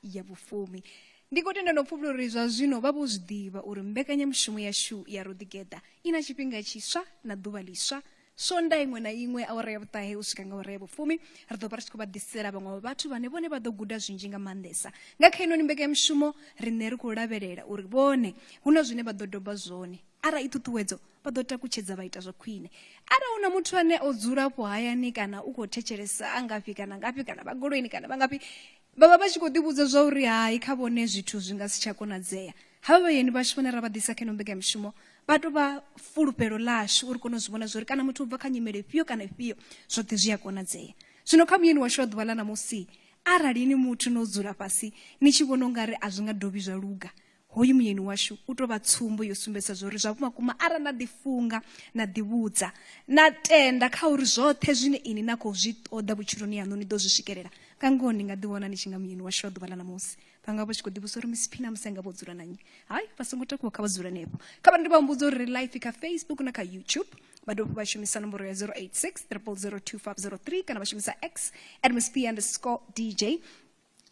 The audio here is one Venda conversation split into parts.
ya vhufumi ndi khou tenda no pfufula uri zwa zwino vha vho zwi ḓivha uri mbekanyamushumo yashu ya roḓigeḓa i na tshifhinga tshiswa na ḓuvha ḽiswa sonda iṅwe na iṅwe awara ya vhuṱahe u swika nga awara ya vhufumi ri ḓo vha ri tshi khou vha ḓisela vhaṅwe vha vhathu vhane vhone vha ḓo guda zwinzhi nga maanḓesa nga kha inoni mbekanyamushumo riṋe ri khou lavhelela uri vhone hu na zwine vha ḓo doba zwone arali i ṱhuṱhuwedzo vha ḓo takutshedza vha ita zwa khwine arali hu na muthu ane o dzula afho hayani kana u khou thetshelesa a ngafhi kana ngafhi kana vha goloini kana vha ngafhi vha vha vha tshi khou ḓivhudza zwa uri hai kha vhone zwithu zwi nga si tsha konadzea havha vhayeni vhashu vhane ra vha ḓisa kha ino mbekanyamushumo vha tou vha fulufhelo ḽashu uri kone u zwi vhona zwa uri kana muthu u bva kha nyimele ifhio kana ifhio zwoṱhe zwi a konadzea zwino kha muyeni washu wa ḓuvha ḽa ṋamusi arali ni muthu no dzula fhasi ni tshi vhona u nga ri a zwi nga dovhi zwa luga Hoyu muyeni washu u tou vha tsumbo yo sumbedza zwo ri zwa vhumakuma arali na ḓifunga na ḓivhudza na tenda kha uri zwoṱhe zwine ini na khou zwi ṱoḓa vhutshiloni yaṋu ni ḓo zwi swikelela nga ngoho ni nga ḓiwana ni tshi nga muyeni washu wa ḓuvha ḽa ṋamusi vha nga vha tshi khou ḓivhusa uri miss phina musi nga vho dzula na nnyi hayi vha songo takuwa kha vha dzule henefho kha vha ndi vha humbudza uri ri life kha facebook na kha youtube vha dovha vha shumisa nomboro ya 086 3002503 kana vha shumisa x at msp underscore dj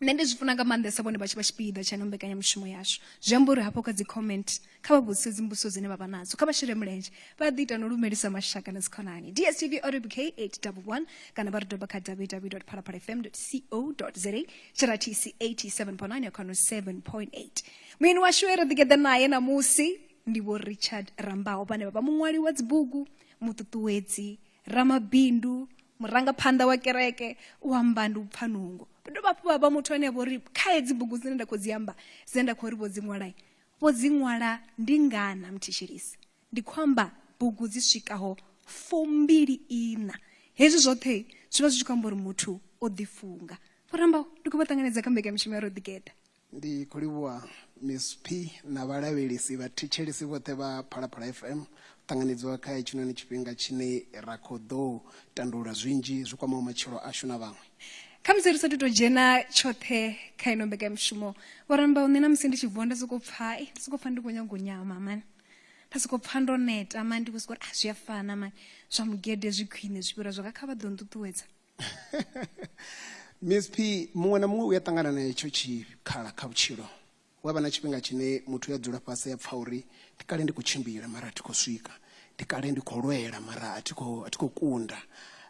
nṋe ndi zwi funa nga maanḓesa vhone vha tshi vha tshipiḓa tsha ino mbekanyamushumo yashu zwi amba uri hafho kha dzi comment kha vha vhudzise dzimbuso dzine vha vha nadzo kha vha shele mulenzhe vha ḓi ita no lumelisa mashaka na dzikhonani dstv oribk 811 kana vha ri doba kha www phalaphala fm co za tshiratisi 87.9 ya khano 7.8 muini washu e ri ḓigeḓa naye ṋamusi ndi vho richard rambaho vhane vha vha muṅwali wa dzibugu muṱuṱuwedzi ramabindu murangaphanḓa wa kereke u amba ndi u pfha nungo vha dovha hafhu vha vha muthu ane vho ri kha hedzi bugu dzine nda khou dzi amba dzine nda khou ri vho dzi ṅwalai vho dzi ṅwala ndi ngana muthetshelisi ndi khou amba bugu dzi swikaho fumbili ina hezwi zwoṱhe zwi vha zwi tshi khou amba uri muthu o ḓifunga vho rambaho ndi khou vha ṱanganedza kha mbekamishumo ya ro ḓigeda Ndi khou livhuwa Miss P na vhalavhelesi vha thetshelesi vhoṱhe vha Phalaphala FM ṱanganedziwa kha hetshinoni tshifhinga tshine ra khou ḓo tandulula zwinzhi zwi kwamaho matshilo ashu na vhaṅwe. Khamusi ri sa thu tou dzhena tshoṱhe kha ino mbekanyamushumo, Vho Rambau, nṋe na musi ndi tshi vuwa nda sokou pfa, ei, nda sokou pfa ndi khou nyaga u nyama mani. Nda sokou pfa ndo neta mani, ndi khou sokou ri, ah, zwi a fana mani, zwa mugede zwi khwine zwi fhira zwa nga kha vha ḓo nṱuṱuwedza. miss p muṅwe na muṅwe u ya ṱangana na hetsho tshikhala kha vhutshilo wa vha na tshifhinga tshine muthu ya dzula fhasi ya pfha uri ndi kale ndi khou tshimbila mara a thi khou swika ndi kale ndi khou lwela mara a thi khou a thi khou kunda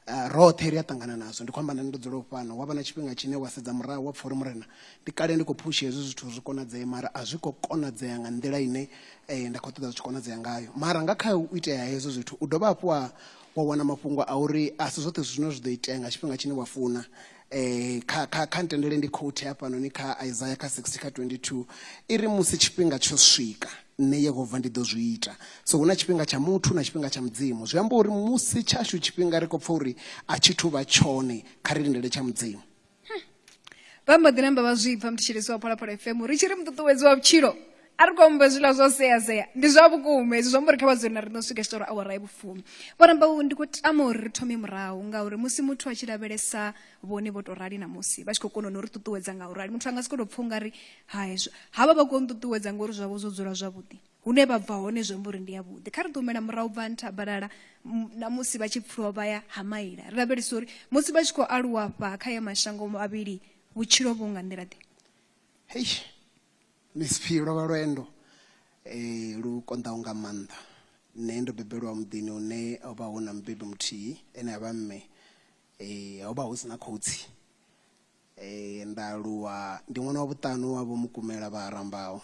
uh, roṱhe ri a ṱangana nazwo ndi khou amba nani ndo dzula fhano wa vha na tshifhinga tshine wa sedza murahu wa pfha uri murena ndi kale ndi khou phusha hezwi zwithu zwi konadzee mara a zwi khou konadzea nga nḓila ine eh, nda khou ṱoḓa zwi tshi konadzea ngayo mara nga kha u itea hezwo zwithu u dovha hafhu wa wa wana mafhungo a uri a si zwoṱhe zwithu zwine zwi ḓo itea nga tshifhinga tshine wa funa um kha kha kha ntendele ndi khouthi hafhanoni kha isaya kha 60 kha 22 i ri musi tshifhinga tsho swika nṋe yehova ndi ḓo zwi ita so hu na tshifhinga tsha muthu na tshifhinga tsha mudzimu zwi amba uri musi tshashu tshifhinga ri khou pfha uri a tshi thu vha tshone kha ri lindele tsha mudzimu vha mbo ḓi namba vha zwi pfa muthetshelesi wa phalaphala fm ri tshi ri muṱuṱuwedzi wa vhutshilo a ri khou amba zwiḽa zwa seasea ndi zwa vhukuma hezwi zwi amba uri kha vha dzule na ri no swika tshi tori awara ya vhufumi vho ramba u ndi khou tama uri ri thome murahu ngauri musi muthu a tshi lavhelesa vhone vho tou rali na musi vha tshi khou kona no ri ṱuṱuwedza nga u rali muthu a nga si khou tou pfha u nga ri ha hezwo ha vha vha khou nṱuṱuwedza ngori zwavho zwo dzula zwavhuḓi hune vha bva hone zwi amba uri ndi yavhuḓi kha ri ḓo humela murahu bva nthabalala na musi vha tshi pfuluwa vha ya ha maila ri lavhelesa uri musi vha tshi khou aluwa fha kha ya mashango mavhili vhutshilo vhu nga nḓila ḓe hei misiphi lwo vha lwendo um lu konḓaho nga maanḓa nṋe ndo bebelwa muḓini une ho vha hu na mubebi muthihi ene a vha mme um ho vha hu si na khotsi um nda aluwa ndi ṅwana wa vhuṱanu wa vho mukumela vha arambaho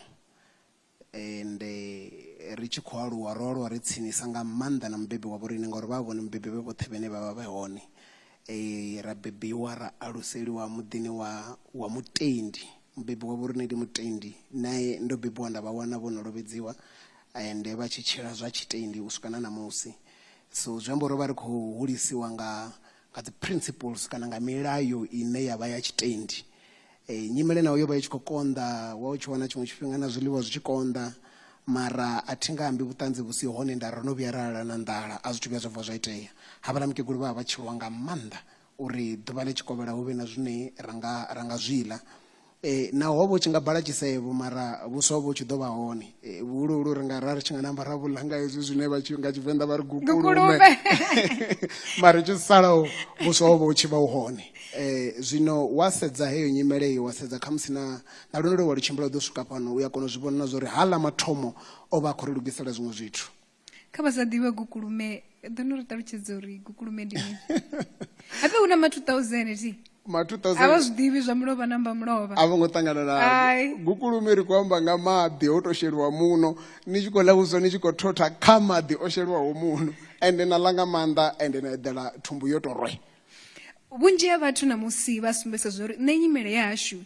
Ende ri tshi khou aluwa, ro aluwa ri tsinisa nga maanḓa na Mubebi wa vhoriṋe, ngauri vha vha vhone Mubebi vhe vhoṱhe vhane vha vha vhe hone. Ra bebiwa ra aluseliwa muḓini wa wa mutendi, Mubebi wa vhoriṋe ndi mutendi. Nae ndo bebiwa nda vha wana vho no lovhedziwa, ende vha tshi tshila zwa tshitendi u swika na ṋamusi. So zwi amba uri ro vha ri khou hulisiwa nga nga dzi principles kana nga milayo ine ya vha ya tshitendi e, nyimele nayo yo vha i tshi khou konḓa wa u tshi wana tshiṅwe tshifhinga na zwiḽiwa zwi tshi konḓa mara a thi nga ambi vhuṱanzi vhu si hone nda ro no vhuya ra lala na nḓala a zwithu vhuya zwa bva zwa itea havhala mukegulu vha vha vha tshi lwa nga maanḓa uri ḓuvha ḽi tshikovhela hu vhe na zwine ra nga zwi ḽa E, naho ho vha u tshi nga bala tshisevho mara vhuswa ho vha u tshi ḓo vha hone e, vhuhuluhulu ri nga ra ri tshi nga namba ra vhuḽa nga hezwi zwine vha tshi nga tshivenḓa vha ri gukulume mara tshi salaho vhuswa ho vha u tshi vha u hone um zwino wa sedza heyo nyimele iyo wa sedza khamusi na na lwendo lwe wa lu tshimbila u ḓo swika fhano u ya kona u zwi vhona na zwa uri ha ḽa mathomo o vha a khou ri lugisela zwiṅwe zwithu kha vha sa ḓivhe gukulume ḓo no ri ṱalutshedza uri gukulume ndi mini hape hu na ma 2000 ti ma 2000 a vha zwi ḓivhi zwa mulovha na mba mulovha a vho ngo ṱangana na gukulume ri khou amba nga maḓi ho to sheliwa muno ni tshi khou ḽa vhuswa ni tshi khou thotha kha maḓi o sheliwaho muno ende na ḽa nga maanḓa ende na eḓela thumbu yo to rwe vhunzhi ha vhathu na musi vha sumbesa zwo uri nṋe nyimele ya hashu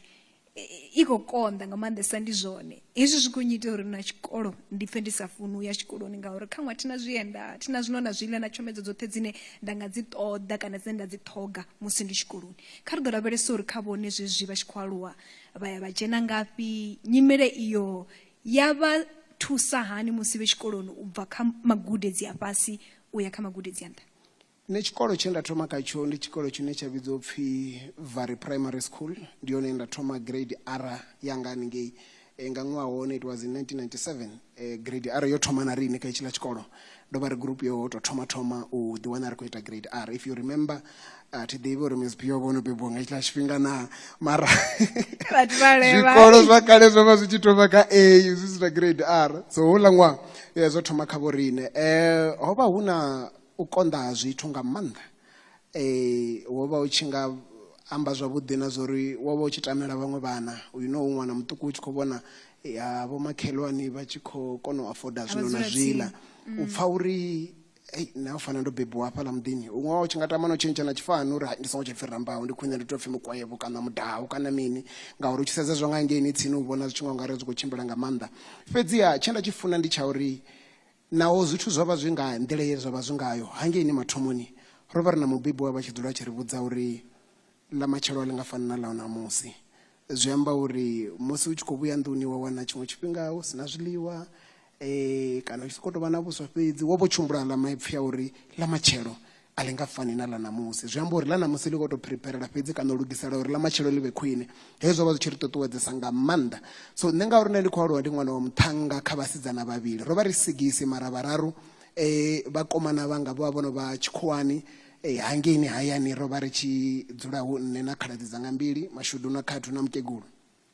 i khou konḓa nga maanḓesa ndi zwone hezwi zwi khou nnyita uri na tshikolo ndi pfhe ndi sa funi u ya tshikoloni ngauri kha ṅwa thina zwienda thina zwino na zwiḽa na tshomedzo dzoṱhe dzine nda nga dzi ṱoḓa kana dzine nda dzi ṱhoga musi ndi tshikoloni kha ri ḓo lavhelesa uri kha vhone zwezwi vha tshi khou aluwa vha ya vha dzhena ngafhi nyimele iyo ya vha thusa hani musi vhe tshikoloni u bva kha magudedzi a fhasi u ya kha magudedzi a nṱha Nṋe tshikolo tshe nda thoma kha tsho ndi tshikolo tshine tsha vhidzwa upfhi Vhari Primary School ndi hone nda thoma grade R yanga haningei nga ṅwaha wa hone it was in 1997 grade R yo thoma na riṋe kha itshiḽa tshikolo ndo vha ri group yo to thoma thoma u ḓi wana ri khou ita grade R if you remember a thi ḓivhi uri Miss Pio vhono bebiwa nga itshiḽa tshifhinga na mara zwikolo zwa kale zwo vha zwi tshi thoma kha A zwi si na grade R so houḽa ṅwaha zwo thoma kha vho riṋe eh hovha hu na U konḓa ha zwithu nga maanḓa. Wo vha u tshi nga amba zwavhuḓi na zwa uri wo vha u tshi tamela vhaṅwe vhana. Uyu no u ṅwana muṱuku u tshi khou vhona vhomakhelwani vha tshi khou kona u afoda zwino na zwiḽa. U pfa uri, Hei, nṋe ho fanela ndo bebiwa hafhaḽa muḓini. Huṅwe wa u tshi nga tama na u tshentsha na tshifani uri, Hai, ndi songo tsha pfi Rambau, ndi khwine ndi tou pfi Mukwevho kana Mudau kana mini ngauri u tshi sedza zwa nga hangeini tsini u vhona zwi tshi nga u nga ri a zwi khou tshimbila nga maanḓa. Fhedziha tshe nda tshi funa ndi tsha uri Naho zwithu zwo vha zwi nga nḓila ye zwa vha zwi ngayo hangeini mathomoni, ro vha ri na Mubebi we a vha a tshi dzula a tshi ri vhudza uri ḽa matshelo a ḽi nga fani na ḽa ṋamusi. Zwi amba uri musi u tshi khou vhuya nḓuni wa wana tshiṅwe tshifhinga hu si na zwiḽiwa kana u tshi sokou tou vha na vhuswa fhedzi, wo vha u tshi humbula aḽa maipfi a uri ḽa matshelo a ḽi nga fani na ḽa ṋamusi zwi amba uri ḽa ṋamusi ḽi khou tou phiriphirela fhedzi kana u lugisela uri ḽa matshelo ḽi vhe khwine hezwi zwo vha zwi tshi ri ṱuṱuwedzesa nga maanḓa so nṋe ngauri nṋe ndi khou aluwa ndi ṅwana wa muṱhannga kha vhasidzana vhavhili ro vha ri sigisi mara vhararu um vhakomana vhanga vho vha vho no vha tshikhuwani um hangeini hayani ro vha ri tshi dzula hu nṋe na khaladzi dzanga mbili mashudu na khathu na mukegulu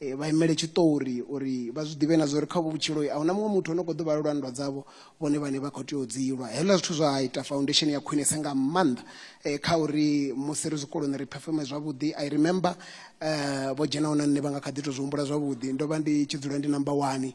eh, vha imele tshiṱori uri vha zwi ḓivhe na zwa uri kha vhutshiloi a huna muṅwe muthu o no khou ḓo vha lwa nndwa dzavho vhone vhane vha khou tea u dzi lwa hezwiḽa zwithu zwa ita foundation ya khwinesa nga maanḓa um kha uri musi ri zwikoloni ri performe zwavhuḓi i remember um vho dzhenaho na nṋe vha nga kha ḓi tou zwi humbula zwavhuḓi ndo vha ndi tshi dzula ndi number one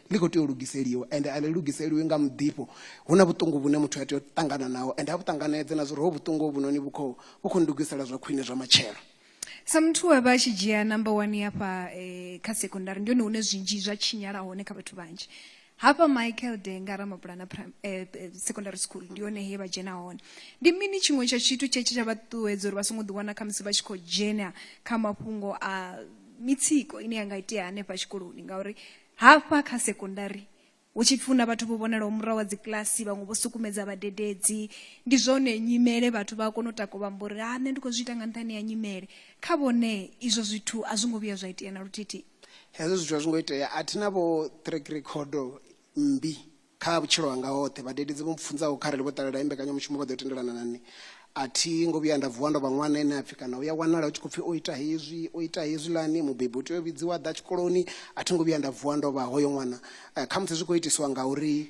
ḽi khou tea u lugiseliwa ende a ḽi lugiseliwi nga muḓifho hu na vhuṱungu vhune muthu a tea u ṱangana naho ende a vhu ṱanganedze na zwori ho vhuṱungu hovhunoni vhu khou vhu khou ndugisela zwa khwine zwa matshelo sa muthu we a vha a tshi dzhia number one hafha eh, kha sekondari ndi hone hune zwinzhi zwa tshinyala hone kha vhathu vhanzhi hafha michael denga ramabulana prim- eh, eh, secondary school ndi hone he vha dzhena hone ndi mini tshiṅwe tsha tshithu tshe tshe tsha vha ṱuṱuwedza uri vha songo ḓiwana khamusi vha tshi khou dzhena kha mafhungo a mitsiko ine ya nga itea hanefha tshikoloni ngauri Hafha kha sekondari, hu tshi pfi hu na vhathu vho vhonalaho murahu ha dzikiḽasi, vhaṅwe vho sukumedza vhadededzi. Ndi zwone, nyimele, vhathu vha a kona u takuwa vha amba uri, Ha, nṋe ndi khou zwi ita nga nṱhani ha nyimele. Kha vhone, izwo zwithu a zwo ngo vhuya zwa itea na luthihi. Hezwo zwithu a zwo ngo itea. A thi na vho-ṱhirekhirekhodo mmbi Kha vhutshilo hanga hoṱhe, vhadededzi vho mpfunza uri kharali vho ṱalela heyi mbekanyamushumo vha ḓo tendelana na nṋe. A thi ngo vhuya nda vuwa ndo vha ṅwana ane a pfi kana hu ya wanala hu tshi khou pfi o ita hezwi, o ita hezwiḽani, mubebi u tea u vhidziwa a ḓa tshikoloni. A thi ngo vhuya nda vuwa ndo vha hoyo ṅwana. Khamusi zwi khou itiswa ngauri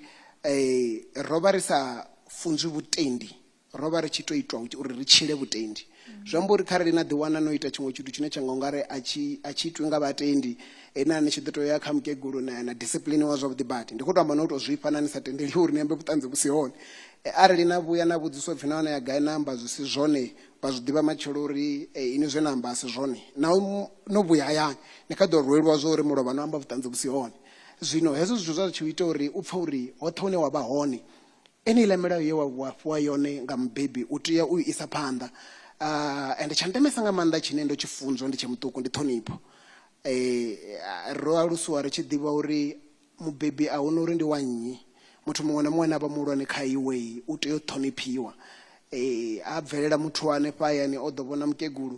ro vha ri sa funzwi vhutendi ro vha ri tshi tou itwa uri ri tshile vhutendi zwi amba uri kharali na ḓiwana no ita tshiṅwe tshithu tshine tsha nga ungari a tshi a tshi itwi nga vhatendi ena ni tshi ḓo tou ya kha mukegulu na na discipline wa zwavhuḓi badi ndi khou tou amba no tou zwifha na ni sa tendeli uri ni ambe vhuṱanzi vhu si hone e, arali na vhuya na vhudziswa pfhi nahone ya gai na amba zwi si zwone vha zwi ḓivha matshelo uri e, ini zwe na amba a si zwone na no vhuya hayani ni kha ḓo rwelwa zwo uri mulovha no amba vhuṱanzi vhu si hone zwino hezwo zwithu zwa zwi tshi ita uri u pfha uri hoṱhe hune wa vha hone Eneiḽa milayo ye wa wa fhiwa yone nga mubebi u tea u i isa phanḓa. Ah, ende tsha ndemesa nga maanḓa tshine ndo tshi funzwa ndi tshe muṱuku ndi ṱhonipho. Eh, ro alusiwa ri tshi ḓivha uri mubebi a huna uri ndi wa nnyi, muthu muṅwe na muṅwe ane a vha muhulwane kha iwe u tea u ṱhoniphiwa. Eh, ha bvelela muthu wa hanefha hayani o ḓo vhona mukegulu,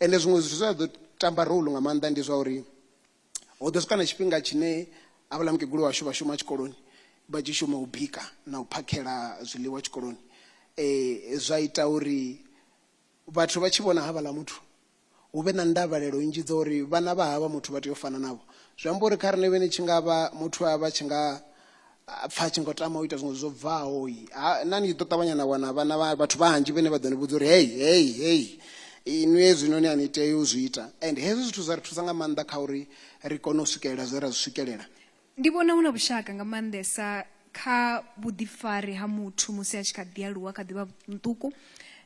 ende zwiṅwe zwithu zwa ḓo tamba role nga maanḓa ndi zwa uri ho ḓo swika na tshifhinga tshine havhala mukegulu washu vha shuma tshikoloni vha tshi shuma u bika na u phakhela zwiḽiwa tshikoloni um zwa ita uri vhathu vha tshi vhona havhala muthu hu vhe na ndavhelelo nnzhi dza uri vhana vha havha muthu vha tea u fana navho zwi amba uri kha riṋe vhene tshi nga vha muthu a vha tshi nga a pfa a tshi ngo tama u ita zwiṅwe zwo bvaho ha na ni tshi ḓo ṱavhanya na wana vhana vha- vhathu vhanzhi vhane vha ḓo ni vhudza uri hei hei hei inwi hezwinoni a ni tei u zwi ita and hezwi zwithu zwa ri thusa nga maanḓa kha uri ri kone u swikelela zwe ra zwi swikelela ndi vhona hu na vhushaka nga maanḓesa kha vhuḓifari ha muthu musi a tshi kha ḓi aluwa kha ḓivha muṱuku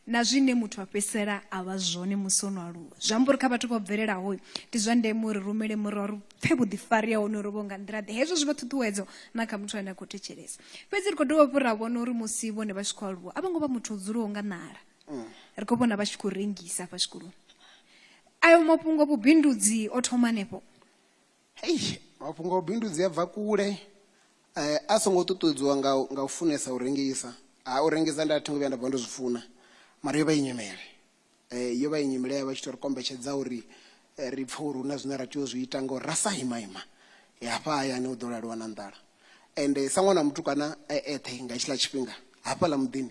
na zwine muthu a fhedzisela a vha zwone musi o no aluwa zwi amba uri kha vhathu vho bvelelaho ndi zwa ndeme uri rumele murwa ri pfe vhuḓifari ha honorovho nga nḓila-ḓe hezwo zwi vha ṱhuṱhuwedzo na kha muthu ane a khou thetshelesa fhedzi ri khou dovha hafhu ra vhona uri musi vhone vha tshi khou aluwa a vho ngo vha muthu o dzulaho nga ṋala mm. ri khou vhona vha tshi khou rengisa hafha tshikoloni ayo mafhungo vhubindudzi o thoma hanefho hei mafhungo a vhubindudzi a bva kule um a songo ṱuṱuwedziwa nga nga u funesa u rengisa ha u rengisa nda thi ngo vhuya nda bva ndo zwi funa mara yo vha i nyimele Eh, yo vha i nyimele ya vha tshi to ri kombetshedza uri eh, ri pfhe uri hu na zwine ra tea u zwi ita ngauri ra sa ima ima eh, hafha hayani hu ḓo laliwa na nḓala ende eh, sa ṅwana wa mutukana eh, eṱhe nga tshiḽa tshifhinga hafhaḽa muḓini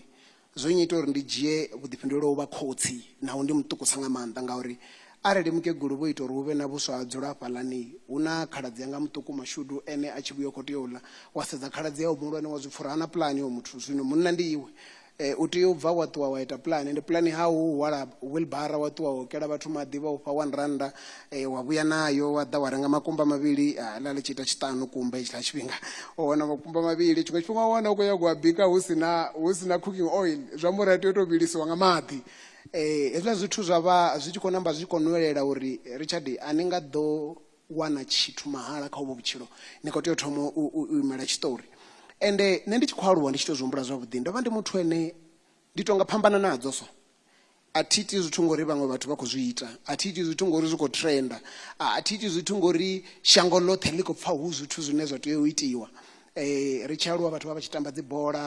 zwo nnyita uri ndi dzhie vhuḓifhinduleli u vha khotsi naho ndi muṱukusa nga maanḓa ngauri arali mukegulu vho ita uri hu vhe na vhuswa ha dzula hafhaḽani hu na khaladzi yanga muṱuku mashudu ene a tshi vhuya khou tea u ḽa wa sedza khaladzi yawe muhulwane wa zwipfura ha na pulani wa muthu zwino munna ndi iwe Eh, u tea u bva wa ṱuwa wa ita pulani ende pulani ha u hwala wilbara wa ṱuwa wo kela vhathu maḓi vha ufha one randa eh, wa vhuya nayo wa ḓa wa renga makumba mavhili ah, ḽa ḽi tshi ita tshiṱanu kumba hetshiḽa tshifhinga wa wana makumba mavhili tshiṅwe tshifhinga wa wana u khou nyago a bika hu sina hu sina cooking oil zwi amba uri a tea u tou vhilisiwa nga maḓi eh, hezwiḽa zwithu zwa vha zwi tshi khou namba zwi tshi khou nwelela uri richard a ni nga ḓo wana tshithu mahala kha uvho vhutshilo ni khou tea u thoma u imela tshiṱori ende nṋe ndi tshi khou aluwa ndi tshi to zwi humbula zwavhuḓi ndo vha ndi muthu ene ndi tonga phambana nadzo so a thi iti zwithu ngori vhaṅwe vhathu vha khou zwi ita a thi iti zwithu ngori zwi khou trenda a thi iti zwithu ngori shango ḽoṱhe ḽi khou pfha hu zwithu zwine zwa tea u itiwa um ri tshi aluwa vhathu vha vha tshi tamba dzibola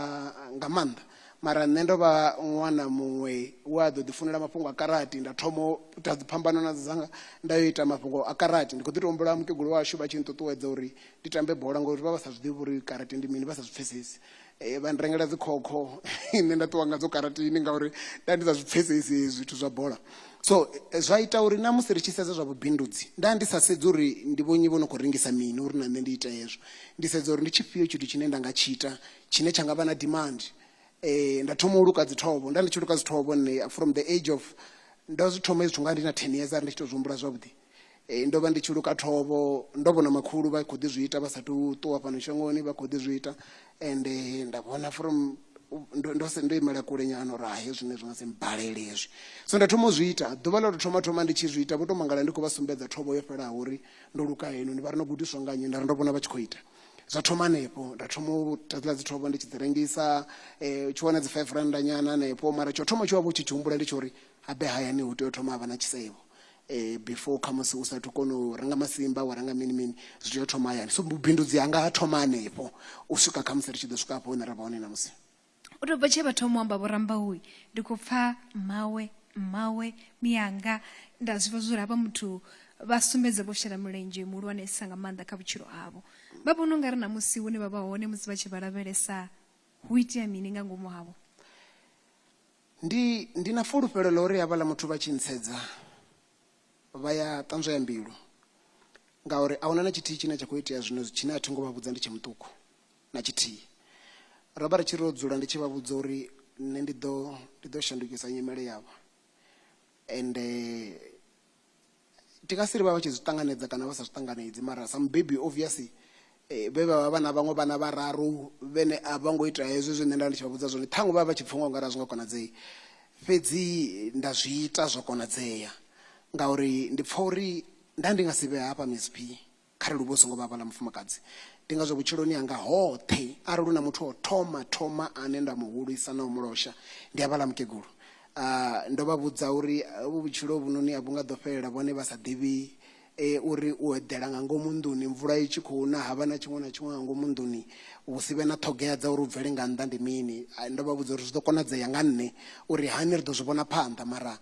nga maanḓa mara nṋe ndo vha ṅwana muṅwe we a ḓo ḓi funela mafhungo a karati nda thoma u ita dziphambano na dzanga nda yo ita mafhungo a karati ndi khou ḓi to humbula mukegulu washu vha tshi nṱuṱuwedza uri ndi tambe bola ngori vha vha sa zwiḓivhi uri karati ndi mini vha sa zwi pfhesesi eh, vha ndirengela dzikhokho nṋe nda ṱuwa ngadzo karatini ngauri nda ndi sa zwi pfhesesi zwithu zwa bola so eh, zwa ita uri na musi ri tshi sedza zwa vhubindudzi nda ndi sa sedzi uri ndi vhonyi vho no khou rengisa mini uri na nṋe ndi ite hezwo ndi sedza uri ndi tshifhio tshithu tshine nda nga tshi ita tshine tsha nga vha na demand eh, nda thoma u luka dzithobo nda ndi tshi luka dzithobo nne from the age of ndo zwi thoma izwi nga ndi na 10 years ari ndi tshi to zwi humbula zwavhuḓi eh, ndo vha ndi tshi luka thovho ndo vhona makhulu vha khou ḓi zwi ita vha sa tu ṱuwa fhano shangoni vha khou ḓi zwi ita and eh, nda vhona from ndo ndo se ndo imela kule nyana uri hahe zwine zwi nga se mbalele hezwi so nda thoma u zwi ita ḓuvha ḽa to thoma thoma ndi tshi zwi ita vho to mangala ndi khou vha sumbedza thovho yo fhelaho uri ndo luka heno ni vha ri no gudiswa nga nnyi nda ri ndo vhona vha tshi khou ita zwa thoma hanefho nda thoma u tatula dzi thoma ndi tshi dzi rengisa um tshi wana dzi five randa nyana hanefho mara tsho thoma tshi wa vho tshi tshi humbula ndi tsho uri habe hayani hu tea u thoma havha na tshisevho um before khamusi u sathu kona u renga masimba wa renga mini mini zwi tea u thoma hayani so vhubindudzi hanga ha thoma hanefho u swika khamusi ri tshi ḓo swika hafho hune ra vha hone namusi u tou bva tshe vha thoma u amba vho rambau ndi khou pfa mmawe mmawe miyanga nda zwi vha zwori havha muthu vha sumbedza vho shela mulenzhe muhulwanesa nga maanḓa kha vhutshilo havho vha vhona u nga ri na musi hune vha vha hone musi vha tshi vha lavhelesa hu itea mini nga ngomu havho ndi ndi na fulufhelo ḽa uri havhaḽa muthu vha tshi ntsedza vha ya ṱanzwa ya mbilu ngauri a huna na tshithihi tshine tsha khou itea zwino tshine a thi ngo vha vhudza ndi tshe muṱuku na tshithihi. Ro vha ri tshi ro dzula ndi tshi vha vhudza uri nṋe ndi ḓo ndi ḓo shandukisa nyimele yavho ende ndi nga si ri vha vha tshi zwi ṱanganedza kana vha sa zwi ṱanganedzi mara sa mubebi obvious vhe vha vha vha na vhaṅwe vhana vhararu vhene a vha ngo ita hezwo zwe nṋe nda ndi tshi vha vhudza zwone ṱhaṅwe vha vha vha tshi pfha nga ungari a zwi nga konadzei fhedzi nda zwi ita zwa konadzea ngauri ndi pfha uri nda ndi nga si vhe hafha msp Kharali u vha u songo vha vhala mufumakadzi, ndi ngazwo vhutshiloni hanga hoṱhe arali hu na muthu o thoma thoma ane nda mu hulisa na u mu losha, ndi a vhala mukegulu. Ndo vha vhudza uri hovhu vhutshilo hovhunoni a vhu nga ḓo fhelela vhone vha sa ḓivhi uri u eḓela nga ngomu nḓuni mvula i tshi khou na, ha vha na tshiṅwe na tshiṅwe nga ngomu nḓuni, hu si vhe na ṱhogea dza uri u bvele nga nnḓa ndi mini. Ndo vha vhudza uri zwi ḓo konadzea nga nṋe uri hani ri ḓo zwi vhona phanḓa mara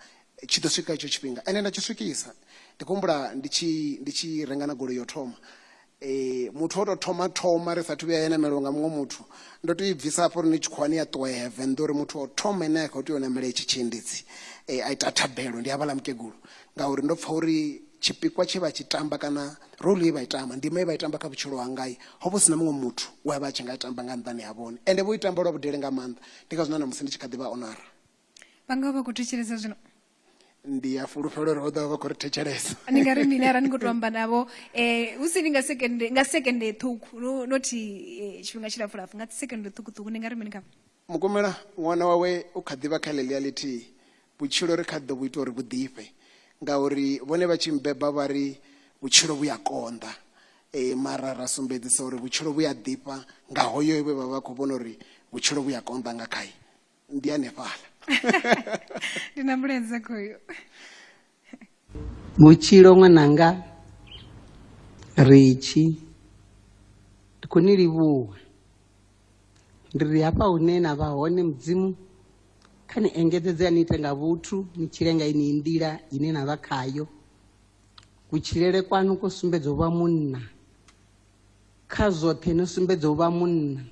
tshi ḓo swika itsho tshifhinga ende nda tshi swikisa ndi khou humbula ndi tshi ndi tshi renga na goloi yo thoma um muthu o tou thoma thoma ri sathu vhuya ya namelwa nga muṅwe muthu ndo tou i bvisa hafho ri ni tshikhuwani ya ṱuwa ya venḓa uri muthu o thoma ine a khou tea u namela itshi tshiendedzi um a ita thabelo ndi havhaḽa mukegulu ngauri ndo pfha uri tshipikwa tshe vha tshi tamba kana role ye vha i tamba ndima ye vha i tamba kha vhutshilo hangai ho vha hu si na muṅwe muthu we a vha a tshi nga i tamba nga nṱhani ha vhone ende vho i tamba lwa vhudele nga maanḓa ndi ngazwo na ṋamusi ndi tshi kha ḓi vha onara vha nga vha khou thetshelesa zwino ndi ya fulufhelo uri vho ḓovha vha khou ri thetshelesa ni nga ri mini arali ni khou to amba navho um hu si ni nga sekende nga sekende ṱhukhu nothi eh, tshifhinga tshilapfulapfu nga sekende ṱhukhuṱhukhu ni nga ri mini khavho mukumela ṅwana wawe u kha ḓivha kha ḽeḽia ḽithihi vhutshilo ri kha ḓo vhu ita uri vhu ḓifhe ngauri vhone vha tshi mbeba vha ri vhutshilo vhu ya konḓa e, mara ra sumbedzisa uri vhutshilo vhu ya ḓifha nga hoyo we vha vha khou vhona uri vhutshilo vhu ya konḓa nga khaye ndi hanefhala ndi na mulenzhe khoyo vhutshilo ṅwananga ritshi ndi khou ni livhuwa ndi ri hafha hune na vha hone mudzimu kha ni engedzedze a ni ite nga vhuthu ni tshile nga ini nḓila ine na vha khayo kutshilele kwanu ko sumbedza u vha munna kha zwoṱhe no sumbedza u vha munna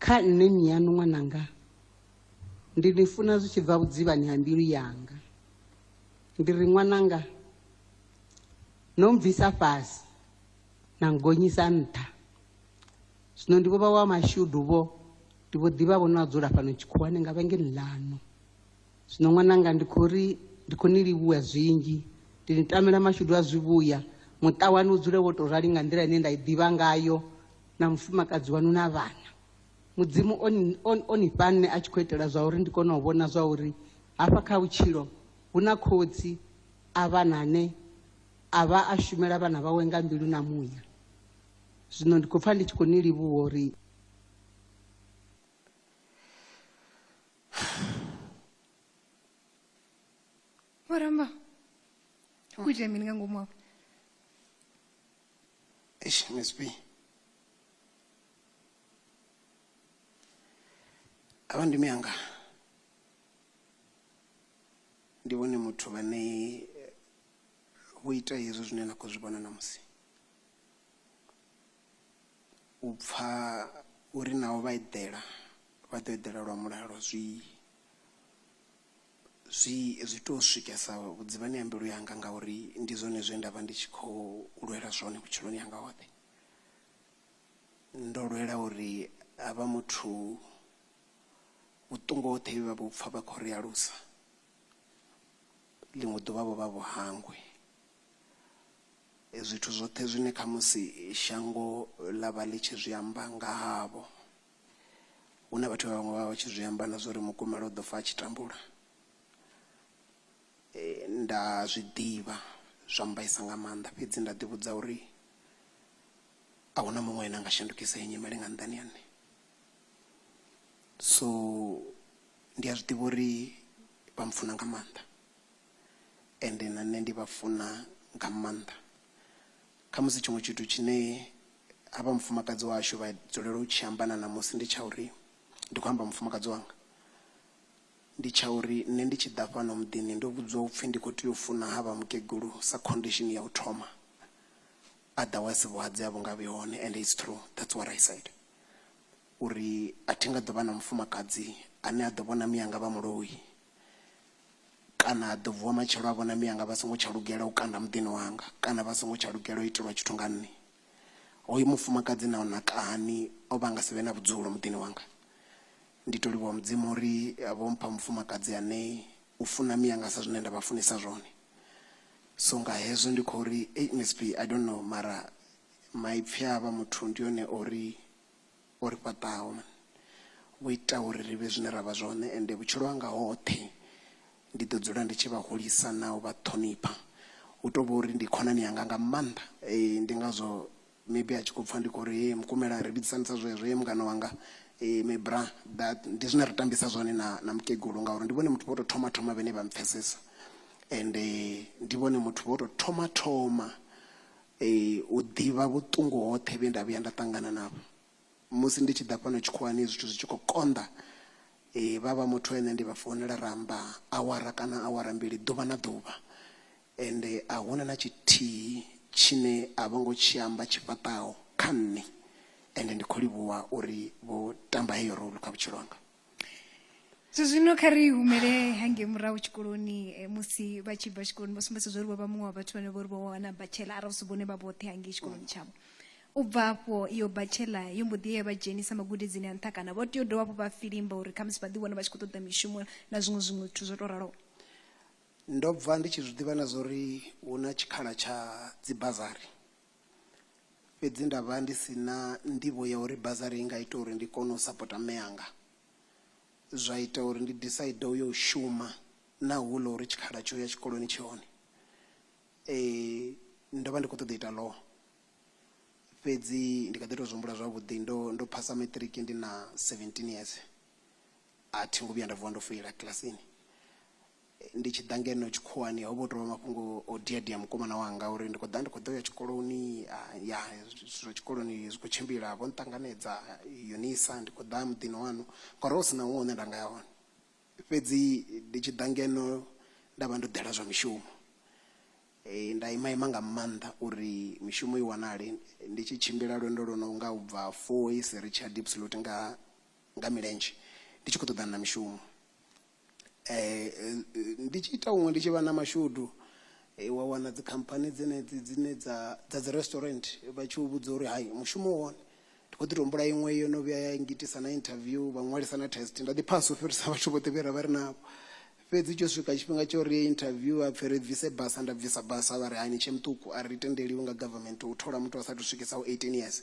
Kha nṋe mmiaṋu ṅwananga, ndi ni funa zwi tshi bva vhudzivhani ha mbilu yanga. Ndi ri, Ṅwananga, no mbvisa fhasi na nngonyisa nṱha. Zwino ndi vho vha wa mashudu-vho, ndi vho ḓi vha-vho no a dzula fhano tshikhuwani nga vhengeni ḽaṋu. Zwino ṅwananga ndi khou ri ndi khou ni livhuwa zwinzhi, ndi ni tamela mashudu a zwivhuya, muṱa waṋu u dzule wo tou rali nga nḓila ine nda i ḓivha ngayo na mufumakadzi waṋu na vhana. Mudzimu o ni, o, o ni fha nṋe a tshi khou itela zwa uri ndi kone u vhona zwa uri hafha kha vhutshilo hu na khotsi a vhana ane a vha a shumela vhana vhawe nga mbilu na muya. Zwino ndi khou pfa ndi tshi khou ni livhuwa uri. waramba ukuita mini nga ngomu apo eish msp ava ndimi yanga ndi vhone muthu vhane eh, vho ita hezwi zwine na khou zwi vhona namusi u pfa uri naho vha eḓela vha ḓo eḓela lwa mulalo zwi zwi zwi to swikesa vhudzivhani ha mbilu yanga ngauri ndi zwone zwe nda vha ndi tshi khou lwela zwone vhutshiloni hanga hoṱhe ndo lwela uri havha muthu vhuṱungu hoṱhe vhe vha vho pfa vha khou ri alusa ḽiṅwe ḓuvha vho vha vho hangwe. zwithu zwoṱhe zwine khamusi shango ḽa vha ḽi tshi zwi amba nga havho hu na vhathu vha vhaṅwe vha vha tshi zwi amba na zwa uri mukumelo u ḓo fa a tshi tambula eh, nda zwi ḓivha zwa mbaisa nga maanḓa fhedzi nda ḓivhudza uri a huna muṅwe ene a nga shandukisa iyi nyimele nga nḓani ya nṋe so ndi a zwi ḓivha uri vha mpfuna nga maanḓa ende na nṋe ndi vha funa nga maanḓa. Khamusi tshiṅwe tshithu tshine havha mufumakadzi washu vha dzulela u tshi amba na ṋamusi ndi tsha uri, ndi khou amba mufumakadzi wanga, ndi tsha uri nṋe ndi tshi ḓa fhano muḓini ndo vhudziwa upfhi ndi kho tea u funa havha mukegulu sa condition ya u thoma, otherwise vhuhadzi a vhu nga vhi hone ende it's true that's what I said uri a thi nga ḓo vha na mufumakadzi ane a ḓo vhona mianga vha muloi. kana ha ḓo vuwa matshelo a vhona mianga vha songo tsha lugela u kanda muḓini wanga kana vha songo tsha lugela u itelwa tshithu nga nṋe hoyu mufumakadzi na na kahani o vha nga si vhe na vhudzulo muḓini wanga ndi to livhuwa mudzimu uri vho mpha mufumakadzi ane u funa mianga sa zwine nda vha funisa zwone so nga hezwo ndi khou ri msp i don't know mara maipfhi a vha muthu ndi yone ori o ri fhaṱaho vhu ita uri ri vhe zwine ra vha zwone ende vhutshilo hanga hoṱhe ndi ḓo dzula ndi tshi vha hulisa na u vha ṱhonipha hu tou vha uri ndi khonani yanga nga maanḓa um ndi ngazwo maybe a tshi khou pfha ndi khou ri hei mukumela ri vhidzisani sa zwezwo ye mungana wanga um mibra that ndi zwine ri tambisa zwone na na mukegulu ngauri ndi vhone muthu vho tou thoma thoma vhene vha mpfhesesa ende ndi vhone muthu vho tou thoma thoma U ḓivha vhuṱungu hoṱhe vhe nda vhuya nda ṱangana navho musi ndi tshi ḓa fhano tshikhuwani zwithu zwi tshi khou konḓa, vha vha muthu ane ndi vha founela ra amba awara kana awara mbili ḓuvha na ḓuvha ende a huna na tshithihi tshine a vho ngo tshi amba tshi fhaṱaho kha nṋe ende ndi khou livhuwa uri vho tamba heyo role kha vhutshilo hanga. so zwino kha ri humele hangei murahu tshikoloni eh, musi vha tshi bva tshikoloni vho sumbedza zwa uri vho vha muṅwe wa vhathu vhane vho ri vho wana batshela arali si vhone vha vhoṱhe hangei tshikoloni tshavho u bva afho iyo batshela yo mbo ḓi ye ya vha dzhenisa magudedzini a nṱha kana vho tea u dovha hafhu vha filimba uri khamusi vha ḓi wana vha tshi khou ṱoḓa mishumo na zwiṅwe zwiṅwe zwithu zwo tou raloho ndo bva ndi tshi zwi ḓivha na zwa uri hu na tshikhala tsha dzibazari fhedzi nda vha ndi si na nḓivho ya uri bazari i nga ita uri ndi kone u sapota mme anga. Zwa ita uri ndi decide u yo u shuma naho hu ḽa uri tshikhala tsho ya tshikoloni tshi hone. Ndo vha ndi khou ṱoḓa u ita law fhedzi ndi kha ḓi tou zwi humbula zwavhuḓi ndo ndo phasa matric ndi na seventeen years a thi ngo vhuya nda vuwa ndo feila kilasini. Ndi tshi ḓa ngeno tshikhuwani ho vha hu tou vha mafhungo o dia dia mukomana wanga uri ndi khou ḓa ndi khou ḓo ya tshikoloni ya zwithu zwa tshikoloni zwi khou tshimbila vho nṱanganedza Unisa ndi khou ḓa muḓini waṋu ngori ho vha hu si na huṅwe hune nda nga ya hone fhedzi ndi tshi ḓa ngeno nda vha ndo ḓela zwa mishumo nda ima ima nga maanḓa uri mishumo i wanale ndi tshi tshimbila lwendo lwo no nga u bva Fourways ri tshi ya Diepsloot nga nga milenzhe ndi tshi khou ṱoḓana na mishumo Ndi tshi ita huṅwe ndi tshi vha na mashudu wa wana dzikhamphani dzenedzi dzine dza dza dzi resturant vha tshi u vhudza uri hai mushumo u hone. Ndi khou ḓi tou humbula iṅwe yo no vhuya ya ngitisa na interview vha ṅwalisa na test nda ḓi phasa u fhirisa vhathu vhoṱhe vhe ra vha ri navho. Fhedzi tsho swika tshifhinga tsha uri interview ha pfhi ri bvise basa nda bvisa basa vha ri hai ni tshe muṱuku a ri tendeliwi nga government u thola muthu a sathu swikisa eighteen years.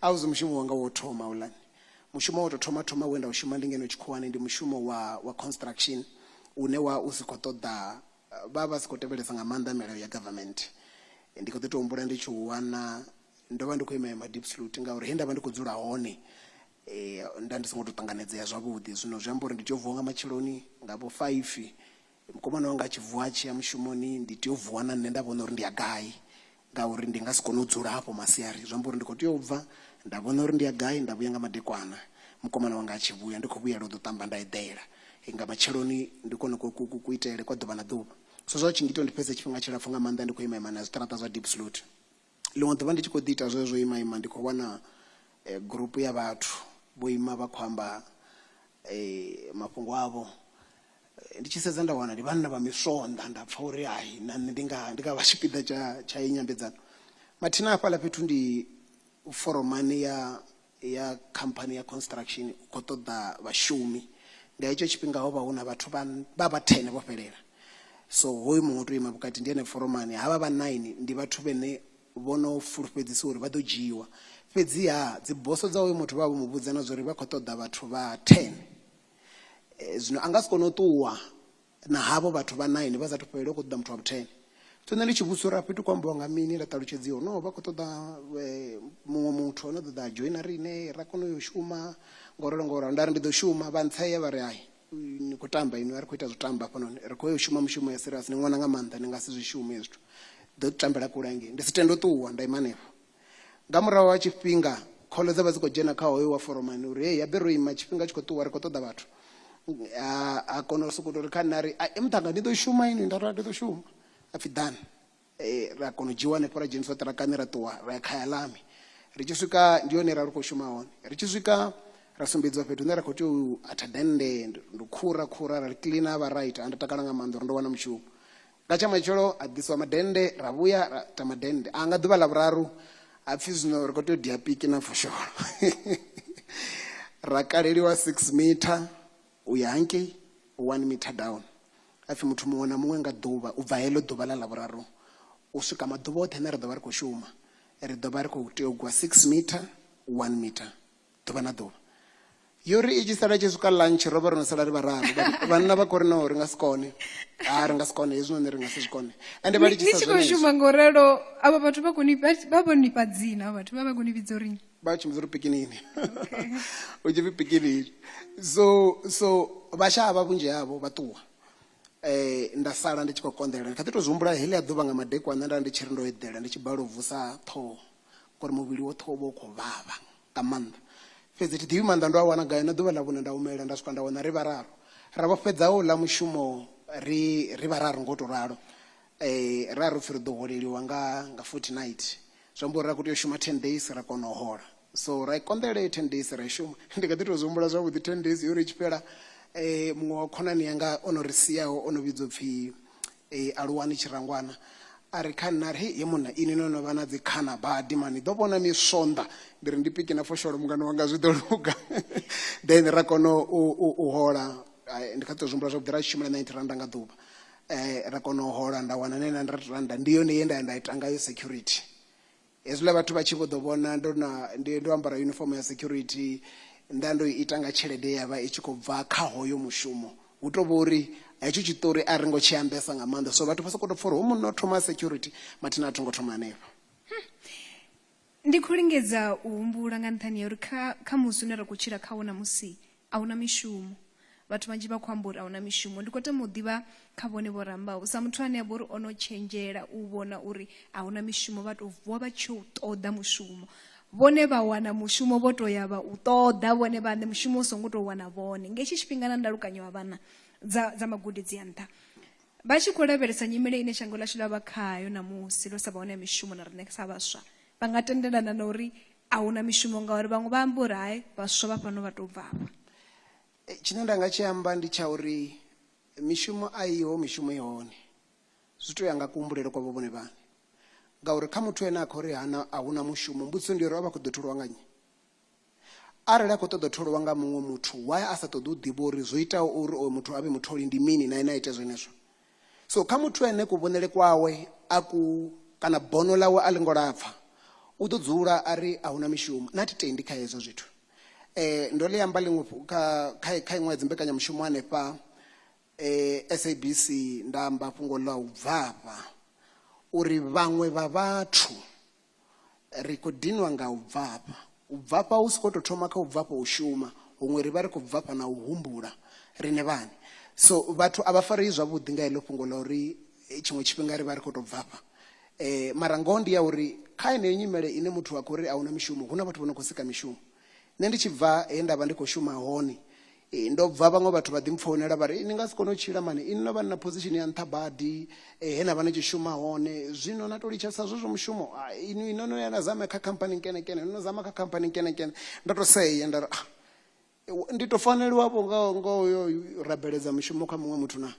a uze mushumo wanga wo thoma houḽani mushumo wo tou thoma thoma we nda u shuma ndi ngeno tshikhuwani ndi mushumo wa wa construction une wa u si khou ṱoḓa vha vha si khou tevhelesa nga maanḓa milayo ya government ndi kho ḓi to humbula ndi tshi u wana ndo vha ndi khou ima ima deep salute ngauri he nda vha ndi khou dzula hone nda ndi songo to ṱanganedzea zwavhuḓi zwino zwi amba uri ndi tea u vuwa nga matsheloni nga vho five Mukomana wanga a tshi vuwa a tshi ya mushumoni ndi tea u vuwa na nṋe nda vhona uri ndi ya gai ngauri ndi nga si kone u dzula hafho masiari zwi amba uri ndi khou tea u bva nda vhona uri ndi ya gai nda vhuya nga madekwana mukomana wanga a tshi vhuya ndi khou vhuyela u ḓo ṱamba nda eḓela nga matsheloni ndi kone ku itele kwa ḓuvha na ḓuvha so zwa u tshi ngita uri ndi fhedze tshifhinga tshilapfhu nga maanḓa ndi khou ima ima na zwiṱaraṱa zwa Diepsloot. Ḽiṅwe ḓuvha ndi tshi khou ḓi ita zwezwo u ima ima ndi khou wana gurupu ya vhathu vho ima vha khou amba mafhungo avho. Ndi tshi sedza nda wana ndi vhanna vha miswonḓa nda pfha uri hai na nṋe ndi nga ndi nga vha tshipiḓa tsha tsha heyi nyambedzano. Mathina hafhaḽa fhethu ndi foromani ya ya khamphani ya construction u khou ṱoḓa vhashumi nga hetsho tshifhinga ho vha hu na vhathu vha vha vha thene vho fhelela so hoyu muṅwe o tou ima vhukati ndi ene foromani havha vha nine ndi vhathu vhene vho no fulufhedzisiwa uri vha ḓo dzhiiwa fhedziha dziboso dza hoyu muthu vha vho mu vhudza na zwa uri vha khou ṱoḓa vhathu vha ten zwino a nga si kone u ṱuwa na havho vhathu vha 9 vha sathu fhelela u khou ṱoḓa muthu wa vhu 10 so nṋe ndi tshi vhudzisa uri afho ithi khou ambiwa nga mini nda ṱalutshedziwa no vha khou ṱoḓa eh, muṅwe muthu ano ṱoḓa joina riṋe ra kona uyo shuma ngoralo ngoralo nda ri ndi ḓo shuma vha ntsea vha ri hai ni khou tamba inwi a ri khou ita zwo tamba hafhanoni ri khou yo shuma mushumo ya serious ni ṅwana nga maanḓa ni nga si zwi shume zwithu ḓo tambela kule hangei ndi si tende u ṱuwa nda ima hanefho Nga murahu ha tshifhinga, khole dza vha dzi khou dzhena kha hoyo wa foromani uri, Hei, habe ro ima, tshifhinga tshi khou ṱuwa, ri khou ṱoḓa vhathu. A, a kona u sokou tou ri kha nṋe a ri, Ai, muṱhannga, ni ḓo shuma inwi? Nda ri, A, ndi ḓo shuma. A pfi, Ḓani. E, ra kona u dzhiiwa hanefho ra dzheniswa ṱirakani ra ṱuwa ra ya Khayalami. Ri tshi swika, ndi hone he ra ri khou shuma hone. Ri tshi swika ra sumbedziwa fhethu hune ra khou tea u atha dennde, ndi u khura khura, ra ḽi kiḽina ha vha right. Ha, ndo takala nga maanḓa uri ndo wana mushumo. Nga tsha matshelo ha ḓiswa madennde ra vhuya ra ita madennde a nga ḓuvha ḽa vhuraru ha pfhi zwino ri khou tea u dia piki na fosholo ra kaleliwa six mitha u ya hangei one mitha down ha pfhi muthu muṅwe na muṅwe nga ḓuvha u bva heḽo ḓuvha ḽa ḽa vhuraru u swika maḓuvha oṱhe ane ra ḓo vha ri khou shuma ri ḓo vha ri khou tea u gwa six mitha one mitha ḓuvha na ḓuvha yo ri i tshi sala tshi swika lunch ro vha ro no sala ri vhararu vhanna vha khori no ri nga si kone ha ri nga si kone hezwinoni ri nga si zwi kone ende vha litshisa tshi khou shuma ngo ralo avha vhathu vha koni vha vho ni fha dzina vhathu vha vha koni vhidzo ri vha tshi mudza ri pikinini u tshi pfi pikinini so so vhasha avha vhunzhi havho vha ṱuwa eh nda sala ndi tshi khou konḓela kha ḓi to zwi humbula heḽi a ḓuvha nga madekwana nda ndi tshi ri ndo eḓela ndi tshi bala u vusa ṱhoho ngori muvhili woṱhe wo vha u khou vhavha nga maanḓa fhedzi thi ḓivhi maanḓa ndo a wana gai na ḓuvha ḽa vhune nda humela nda swika nda wana ri vhararu ra vho fhedza u ḽa mushumo ri ri vhararu ngo to ralo um ra ro pfhi ri ḓo holeliwa nga nga fortnight zwi amba uri ra khou tea u shuma ten days ra kona u hola so ra i konḓela heyo ten days ra i shuma ndi kha ḓi tou zwi humbula zwavhuḓi ten days yo ri i tshi fhela um muṅwe wa khonani yanga o no ri siaho o no vhidzwa u pfhi Ee, aluwani tshirangwana a re kha nṋe a ri, Hei, he munna, inwi no no vha na dzikhana badi, ma ni ḓo vhona miswonḓa. Ndi ri, Ndi piki na fosholo mungana wanga, zwi ḓo luga. Then ra kona u, u, u hola, Ai, ndi kha ḓi tou zwi humbula zwavhuḓi, ra tshi shumela 90 rannda nga ḓuvha. Eh, ra kona u hola, nda wana 900 rannda, ndi yone ye nda ya nda ita ngayo security. Hezwiḽa vhathu vha tshi vho ḓo vhona ndo na, ndi, ndo ambara yunifomo ya security, nda ndo i ita nga tshelede ye ya vha i tshi khou bva kha hoyo mushumo, hu tou vha uri hetsho tshiṱori a ri ngo tshi ambesa nga maanḓa, so vhathu vha sokou tou pfa uri hoyu munna o thoma a security, mathina a tho ngo thoma hanefho. Hum! Ndi khou lingedza u humbula nga nṱhani ha uri kha, kha musi une ra khou tshila khawo ṋamusi, A hu na mishumo. Vhathu vhanzhi vha khou amba uri a hu na mishumo. Ndi khou tama u ḓivha kha vhone vho rambaho, sa muthu ane a vha uri o no tshenzhela u vhona uri a hu na mishumo, vha tou vuwa vha tshi yo u ṱoḓa mushumo. Vhone vha wana mushumo vho tou ya vha u ṱoḓa vhone vhaṋe, mushumo u songo tou wana vhone. Nga hetshi tshifhinga na ndalukanyo ha vha na dza, dza magudedzi a nṱha. Vha tshi khou lavhelesa nyimele ine shango ḽashu ḽa vha khayo ṋamusi, ḽo sa vha hone ha mishumo na riṋe sa vhaswa, vha nga tendelana na uri a hu na mishumo ngauri vhaṅwe vha amba uri hai vhaswa vha fhano vha tou bva afha Eh, tshine nda nga tshi amba ndi tsha uri mishumo a iho mishumo i hone zwi tou ya nga kuhumbulele kwa vho vhone vhane ngauri kha muthu ene a khou ri hana a huna mushumo mbudziso ndi uri a vha khou ḓo tholiwa nga nnyi arali a khou ṱoḓa u tholiwa nga muṅwe muthu why a sa ṱoḓi u ḓivha uri zwo itaho uri oyo muthu a vhe mutholi ndi mini na ene a ite zwenezwo so kha muthu ene kuvhonele kwawe a ku kana bono ḽawe a ḽi ngo lapfha u ḓo dzula a ri a huna mishumo na thi tendi kha hezwo zwithu um ndo ḽi amba ḽiṅwe kha iṅwe ya dzimbekanyamushumo hanefha um sabc nda amba fhungo ḽa u bvafha uri vhaṅwe vha vhathu ri khou dinwa nga u bvafha u bvafha hu si khou tou thoma kha u bvafha u shuma huṅwe ri vha ri khou bvafha na u humbula riṋe vhane so vhathu a vha farei zwavhuḓi nga heḽo fhungo ḽa uri eh, tshiṅwe tshifhinga ri vha ri khou tou bvafha eh mara ngoho ndi ya uri kha yeneyo nyimele ine muthu a khou ri a huna mishumo hu na vhathu vho no khou sika mishumo nṋe ndi tshi bva he nda vha ndi khou shuma hone eh, ndo bva vhaṅwe vhathu vha ḓi mpfounela vha ri ni nga si kone u tshila mani ini no vha ni na position ya nṱha badi eh, he na vha ni tshi shuma hone zwino na tou litshasa zwezwo mushumo ah, ini no no ya na zama kha khamphani nkenekene no no zama kha khamphani nkenekene ndo tou seye nda ri ah, ndi tou faneliwavho nga nga uyo rabeledza mushumo kha muṅwe muthu na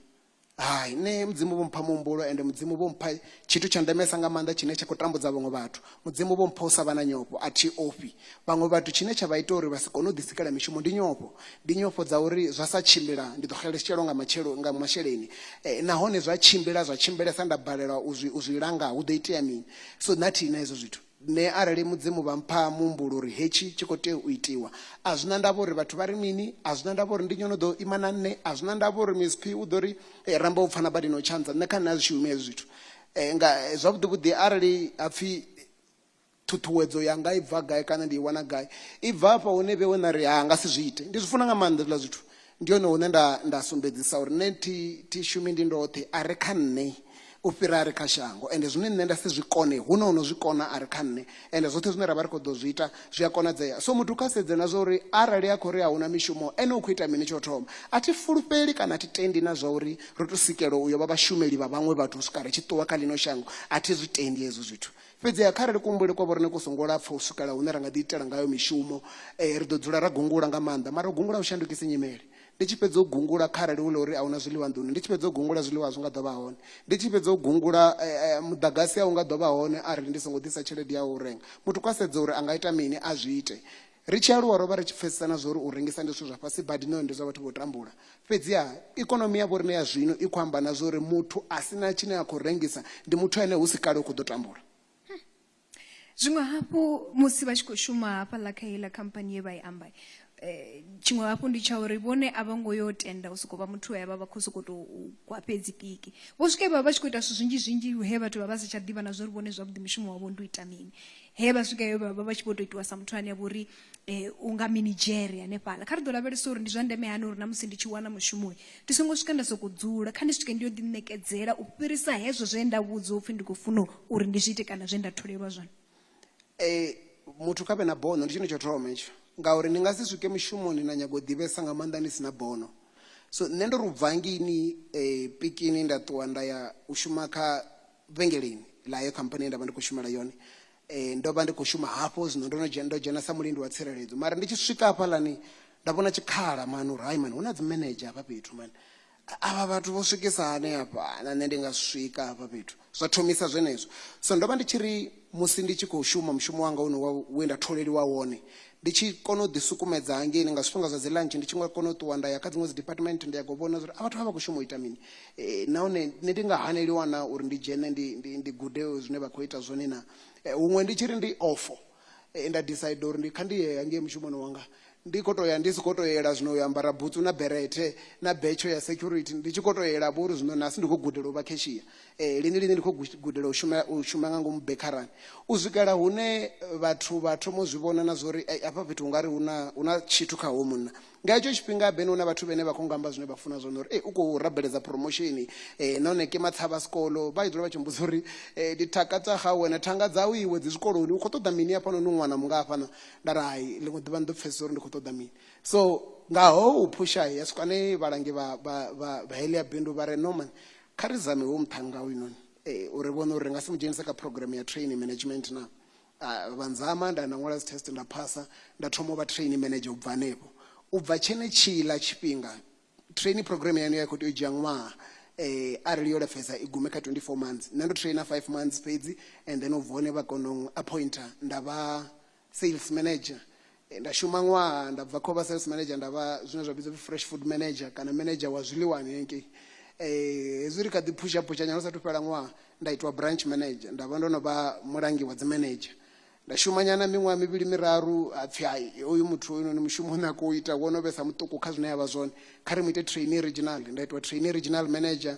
Hai, nṋe Mudzimu vho mpha muhumbulo, ende Mudzimu vho mpha tshithu tsha ndemesa nga maanḓa tshine tsha khou tambudza vhaṅwe vhathu. Mudzimu vho mpha u sa vha na nyofho. A thi ofhi vhaṅwe vhathu. Tshine tsha vha ita uri vha si kone u ḓisikela mishumo ndi nyofho. Ndi nyofho dza uri zwa sa tshimbila ndi ḓo xeletshelwa nga matshelo, nga masheleni. Nahone zwa tshimbila zwa tshimbilesa nda balelwa u zwi, u zwi langa hu ḓo itea mini? So nṋe a thi na hezwo zwithu. Nṋe arali Mudzimu vha mpha muhumbulo uri hetshi tshi khou tea u itiwa, a zwi na ndavha uri vhathu vha ri mini, a zwi na ndavha uri ndi nnyi o no ḓo ima na nṋe, a zwi na ndavha uri Miss-P u ḓo ri, Ee, Rammbo u pfana badi na u tshanza, nṋe kha nṋe a zwi shumi hezwo zwithu. Nga zwavhuḓi-vhuḓi arali ha pfi ṱhuṱhuwedzo yanga i bva gai kana ndi i wana gai, i bva hafha hune vheiwe nda ri ha nga si zwi ite. Ndi zwi funa nga maanḓa hezwiḽa zwithu, ndi hone hune nda nda sumbedzisa uri nṋe thi thi shumi ndi ndoṱhe a re kha nṋe u fhira a re kha shango ende zwine nṋe nda si zwi kone hu na ono zwi kona a re kha nṋe ende zwoṱhe zwine ra vha ri khou ḓo zwi ita zwi a konadzea so muthu kha sedze na zwa uri arali a khou ri a huna mishumo ene u khou ita mini tsho thoma a thi fulufheli kana a thi tendi na zwa uri ro to sikelwa u yo vha vhashumeli vha vhaṅwe vhathu u swika ri tshi ṱuwa kha ḽino shango a thi zwi tendi hezwo zwithu Fhedziha kharali kuhumbulele kwa vhoriṋe ku songo lapfa u swikela hune ra nga ḓiitela ngayo mishumo, ri ḓo dzula ra gungula nga maanḓa. Mara u gungula a hu shandukisi nyimele. Ndi tshi fhedza u gungula kharali hu ḽa uri a hu na zwiḽiwa nḓuni, ndi tshi fhedza u gungula zwiḽiwa a zwi nga ḓo vha hone. Ndi tshi fhedza u gungula muḓagasi a u nga ḓo vha hone arali ndi songo ḓisa tshelede ya u renga. Muthu kha sedze uri a nga ita mini, a zwi ite. Ri tshi aluwa ro vha ri tshi pfesesa na zwauri u rengisa ndi zwithu zwa fhasi badi nahone ndi zwa vhathu vho tambula. Fhedziha, ikonomi ya vhoriṋe ya zwino i khou amba na zwauri muthu a si na tshine a khou rengisa ndi muthu ane hu si kale u khou ḓo tambula. Zwiṅwe hafhu, musi vha tshi khou shuma hafhaḽa kha heiḽa khamphani ye vha i amba, tshiṅwe hafhu ndi tsha uri vhone a vho ngo yo tenda u sokou vha muthu we a vha vha khou sokou tou gwa fhedzi piki. Vho swika he vha vha vha tshi khou ita zwithu zwinzhi-zwinzhi lune vhathu vha vha vha sa tsha ḓivha na zwauri vhone zwavhuḓi mushumo wavho ndi u ita mini. he vha swika he vha vha vha tshi vho tou itiwa sa muthu ane a vha uri um u nga minidzhere hanefhaḽa kha ri ḓo lavhelesa uri ndi zwa ndeme hani uri na musi ndi tshi wana mushumoyi ndi songo swika nda sokou dzula kha ndi swike ndi yo ḓiṋekedzela u fhirisa hezwo zwe nda vhudzwa upfhi ndi khou funa uri ndi zwi ite kana zwe nda tholelwa zwone um muthu kha vhe na bono ndi tshone tsho thoma itsho ngauri ni nga si swike mushumoni na nyago u ḓivhesa nga maanḓa ni si na bono so nṋe ndo ri u bva ngini um pikini nda ṱuwa nda ya u shuma kha vhengeleni ḽa heyo khamphani ye nda vha ndi khou shumela yone um ndo vha ndi khou shuma hafho zwino ndo no dzhena ndo dzhena sa mulindi wa tsireledzo mara ndi tshi swika hafhaḽani nda vhona tshikhala mani uri hai mani hu na dzi manager hafha fhethu mani avha vhathu vho swikisa hani hafha na nṋe ndi nga swika hafha fhethu zwa thomisa zwenezwo so ndo vha ndi tshi ri musi ndi tshi khou shuma mushumo wanga une we nda tholeliwa wone ndi tshi kona u ḓisukumedza hangeini nga zwifhinga zwa dzi lunch ndi tshi nga kona u ṱuwa nda ya kha dziṅwe dzi department ndi ya go vhona zwa uri a vhathu vha vha khou shuma u ita mini Ee, nahone nṋe ndi nga haneliwa na uri ndi dzhene ndi, ndi, ndi gude zwine vha khou ita zwone na Eh, huṅwe ndi tshi ri ndi ofo eh, nda decide uri ndi kha ndi ye hangei mushumoni wanga ndi khou tou ya ndi si khou tou yela zwino u yo ambara butsu na berethe na betsho ya security ndi tshi khou tou yela vho uri zwino nasi ndi khou gudela u vha kheshiya eh, lini lini ndi khou gu- gudela u shuma, u shuma nga ngomu bekharani u swikela hune vhathu vha thoma u zwi vhona na zwa uri "Ei, afha fhethu ungari hu na hu na tshithu kha hoyu munna Nga hetsho tshifhinga Ben u na vhathu vhene vha khou nga amba zwine vha funa zwone uri, Ee, u khou rabeledza promotion, nahone ke matshavha a sikolo vha tshi dzula vha tshi mbudza uri, Ee, ndi thaka dza gawe na thanga dzau iwe dzi zwikoloni, u khou ṱoḓa mini hafhanoni u ṅwana mungafhana? Nda ri, Hai, ḽiṅwe ḓuvha ni ḓo pfesesa uri ndi khou ṱoḓa mini. So, nga hou phusha ya swika hune vhalangi vha vha vha vha heḽia bindu vha ri, Norman, kha ri zame hoyu muṱhannga hoyunoni uri ri vhone uri ri nga si mu dzhenise kha program ya training management naa. Uh, vha ndzama nda nda ṅwala dzi test nda phasa nda thoma u vha train manager u bva hanefho u bva tshenetshila tshifhinga training program yanu ya khou tea u dzhia ṅwaha eh, arali yo lapfesa i gume kha 24 months nṋe ndo traina 5 months fhedzi and then u vhone vha kono appointer nda vha sales manager Eh, nda shuma ṅwaha nda bva kho vha sales manager nda vha zwine zwa vhidzwa fresh food manager kana manager wa zwiḽiwani hengei eh, hezwi ri kha ḓi phusha phusha nyana sathu fhela ṅwaha nda itwa branch manager nda vha ndo no vha mulangi wa dzimanager nda shuma nyana miṅwaha mivhili miraru ha pfhi hai hoyu muthu hoyu noni mushumo une a khou ita wo no vhesa muṱuku kha zwine ya vha zwone kha ri mu ite trainee regional nda itwa trainee regional manager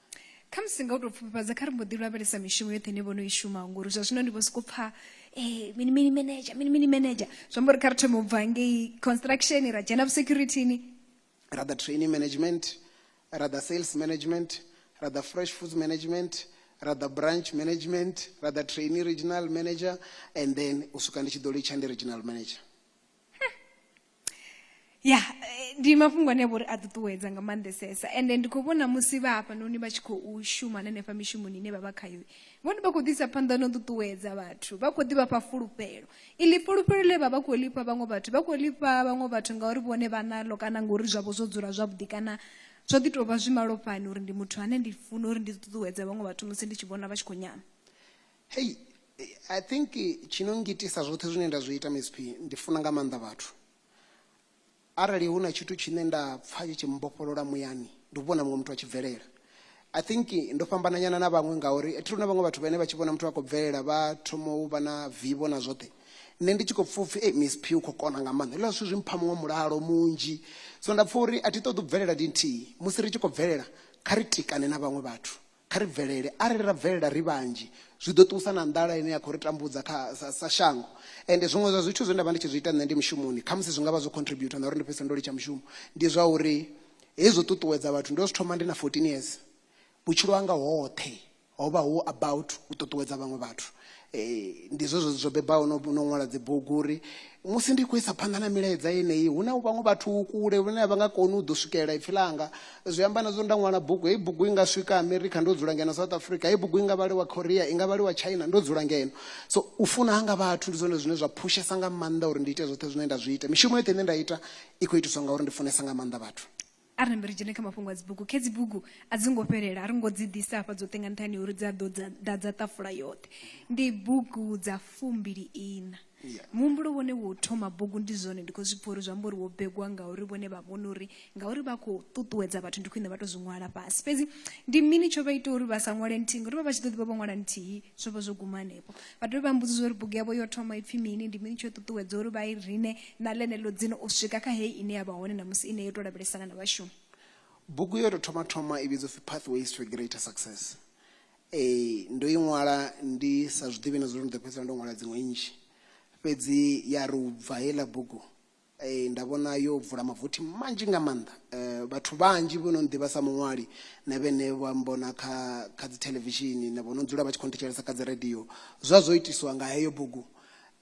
khamusi nga u tou pfufhifhadza kha ri mbo ḓi lavhelesa mishumo yoṱhe ine vho no i shumaho ngori zwa zwino ndi vho sokou pfha um mini mini manager mini mini manager zwi amba uri kha ri thome u bva ngei construction ra dzhena vhusecurityni ra ḓa training management ra ḓa sales management ra ḓa fresh foods management ra ḓa branch management ra ḓa training regional manager and then u swika ndi tshi ḓo litsha ndi regional manager ya eh, ndi mafhungo ane vhori a ṱuṱuwedza nga maanḓesesa ende ndi khou vhona musi vha hafhanoni vha tshi khou shuma na henefha mishumoni ine vha vha khayo vhone vha khou ḓisa phanḓa no ṱuṱuwedza vhathu vha khou ḓivha fha fulufhelo iḽi fulufhelo ḽe vha vha khou lifha vhaṅwe vhathu vha khou lifha vhaṅwe vhathu ngauri vhone vha naḽo kana ngori zwavho zwo dzula zwavhuḓi kana zwo ḓi tou vha zwi malofhani uri ndi muthu ane ndi funa uri ndi ṱuṱuwedza vhaṅwe vhathu musi ndi tshi vhona vha tshi khou nyama Hei, I think tshi no ngitisa zwoṱhe zwine nda zwi ita msp, ndi funa nga maanḓa vhathu. Arali hu na tshithu tshine nda pfa tshi tshi mmbofholola muyani, ndi u vhona muṅwe muthu a tshi bvelela. I think ndo fhambana nyana na vhaṅwe ngauri athi luna vhaṅwe vhathu vhane vha tshi vhona muthu a khou bvelela vha thoma u vha na vivho na zwoṱhe. Nṋe ndi tshi khou pfa upfi msp u khou kona nga maanḓa, hezwiḽa zwithu zwi mpha muṅwe mulalo munzhi. So nda pfa uri athi ṱoḓi u bvelela ndi nthihi, musi ri tshi khou bvelela kha ri tikane na vhaṅwe vhathu, Kha ri bvelele. Arali ra bvelela ri vhanzhi, zwi ḓo ṱuwisa na nḓala ine ya khou ri tambudza kha, sa, sa shango. Ende zwiṅwe zwa zwithu zwe nda vha ndi tshi zwi ita nṋe ndi mushumoni, khamusi zwi nga vha zwo contributor na uri ndi fhedzisele ndo litsha mushumo, ndi zwa uri hezwi zwo ṱuṱuwedza vhathu. Ndo zwi thoma ndi na 14 years. Vhutshilo hanga hoṱhe ho vha hu about u ṱuṱuwedza vhaṅwe vhathu. Ee, ndi zwezwo zwo bebaho no no ṅwala dzibugu uri musi ndi khou isa phanḓa na milaedza yeneyi hu na vhaṅwe vhathu kule vhane a vha nga koni u ḓo swikelela ipfhi ḽanga zwi amba na zwo nda ṅwala bugu heyi bugu i nga swika america ndo dzula ngeno south africa heyi bugu i nga vhaliwa korea i nga vhaliwa china ndo dzula ngeno so u funa hanga vhathu ndi zwone zwine zwa phushesa nga maanḓa uri ndi ite zwoṱhe zwine nda zwi ita mishumo yoṱhe ine nda ita i khou itiswa ngauri ndi funesa nga maanḓa vhathu arali mbe ri dzhene kha mafhungo a dzibugu khe dzibugu a dzi ngo fhelela a ri ngo dzi ḓisa hafha dzoṱhe nga nṱhani uri dzi a ḓo ḓadza ṱafula yoṱhe ndi bugu dza fumbili ina muhumbulo wone wo thoma bugu ndi zwone ndi khou zwi pfha uri zwi amba uri wo begwa ngauri vhone vha vhona uri ngauri vha khou ṱuṱuwedza vhathu ndi khwine vha to zwi ṅwala fhasi fhedzi ndi mini tsho vha ita uri vha sa ṅwale nthihi ngauri vha vha tshi ḓo ḓi vha vho ṅwala nthihi zwo vha zwo guma hanefho vha dovhe vha mbudziza uri bugu yavho yo thoma ipfhi mini ndi mini tsho ṱuṱuwedza uri vha i rine na ḽeneḽo dzina u swika kha heyi ine ya vha hone ṋamusi ine yo tou lavhelesana na vhashumi bugu yo tou thoma thoma i vhidzwa pfhi pathways to a greater success ee ndo i ṅwala ndi sa zwi ḓivhi na zwo ri ndi ḓo fhedzisela ndo ṅwala dziṅwe nnzhi fhedzi ya ri u bva heiḽa bugu ee nda vhona yo vula mavothi manzhi nga maanḓa um vhathu vhanzhi vho no nḓivha sa muṅwali na vhene vha mbona kha kha dzi thelevishini na vho no dzula vha tshi khou nthetshelesa kha dzi radio zwa zwo itiswa nga heyo bugu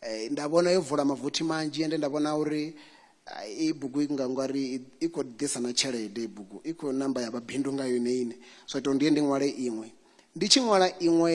Eh, nda vhona yo vula mavothi manzhi ende nda vhona uri eh, i bugu i nga ngwari i khou ḓisa na tshelede i bugu i khou namba ya mabindu nga yone ine so ita ndiye ndi ṅwale iṅwe ndi tshi ṅwala iṅwe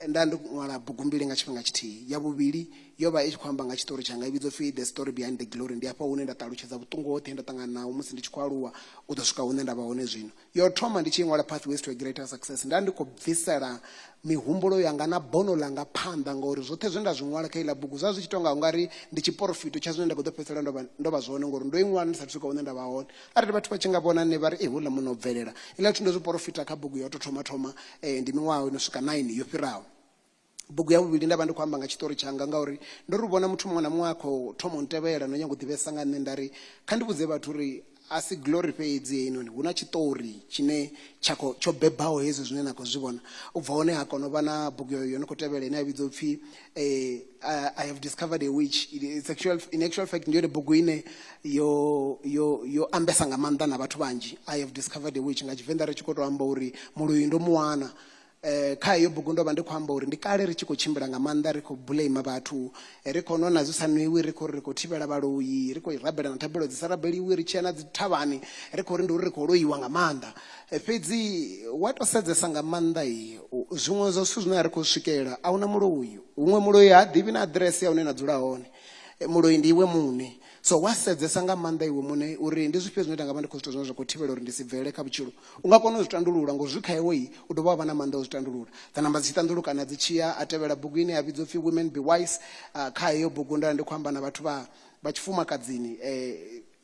nda ndi ṅwala bugu mbili nga tshifhinga tshithihi ya vhuvhili yo vha i tshi khou amba nga tshiṱori tshanga i vhidzo pfi the story behind the glory ndi afha hune nda ṱalutshedza vhuṱungu hoṱhe he nda ṱangana naho musi ndi tshi khou aluwa u ḓo swika hune nda vha hone zwino yo thoma ndi tshi ṅwala pathways to a greater success nda ndi khou bvisela mihumbulo yanga na bono langa phanḓa ngauri zwoṱhe zwe nda zwi ṅwala kha iḽa bugu zwa zwi tshi tonga u nga ri ndi tshiporofito tsha zwine nda khou ḓo fhedzisela ndo vha- ndo vha zwone ngauri ndo i ṅwala ndi sa swika hune nda vha hone arali vhathu vha tshi nga vhona nṋe vha ri e houḽa muno u bvelela iḽa zwithu ndo zwi porofita kha bugu ya u tou thoma thoma eh, ndi miṅwaha ino swika 9 yo fhiraho bugu ya vhuvhili nda vha ndi khou amba nga tshiṱori tshanga ngauri ndo ri vhona muthu muṅwe na muṅwe a khou thoma u ntevhela no nyanga u ḓivhesa nga nṋe nda ri kha ndi vhudze vhathu uri a si glory fhedzi heinoni hu na tshiṱori tshine tsha khou tsho bebaho hezwi zwine na khou zwi vhona u bva hone ha kona u vha na bugu yo no khou tevhela ine ya vhidzwa u pfhi eh, i have discovered a witch It's actual, in actual fact ndi yone bugu ine yo, yo, yo ambesa nga maanḓa na vhathu vhanzhi i have discovered a witch nga tshivenḓa ri tshi khou tou amba uri muluyi ndo mu wana Eh, kha heyo bugu ndo vha ndi khou amba uri ndi kale ri tshi khou tshimbila nga maanḓa ri khou blame vhathu eh, ri khou nwa na zwi sa nwiwi ri khou ri ri khou thivhela vhaloyi ri khou rabela na thabelo dzi sa rabeliwi ri tshi ya na dzi thavhani ri khou ri ndi uri ri khou loiwa nga maanḓa Eh, fhedzi wa tou sedzesa nga maanḓa i u- zwiṅwe zwa zwithu zwine a ri khou swikelela a huna muloyi huṅwe muloyi ha ḓivhi na aḓirese ya hune na dzula hone Eh, muloyi ndi iwe muṋe so wa sedzesa nga maanḓa iwe muṋe uri ndi zwifhio zwine nda nga vha ndi khou zwithu zwine zwa khou thivhela uri ndi si bvele kha vhutshilo U nga kona u zwi tandulula, ngo zwi kha iwe, u dovha wa vha na maanḓa a u zwi tandulula. Dza namba dzi tshi ṱanḓulukana dzi tshi ya, a tevhela bugu ine ya vhidzwa u pfi Women Be Wise. Kha heyo bugu ndo ya ndi khou amba na vhathu vha vha tshifumakadzini,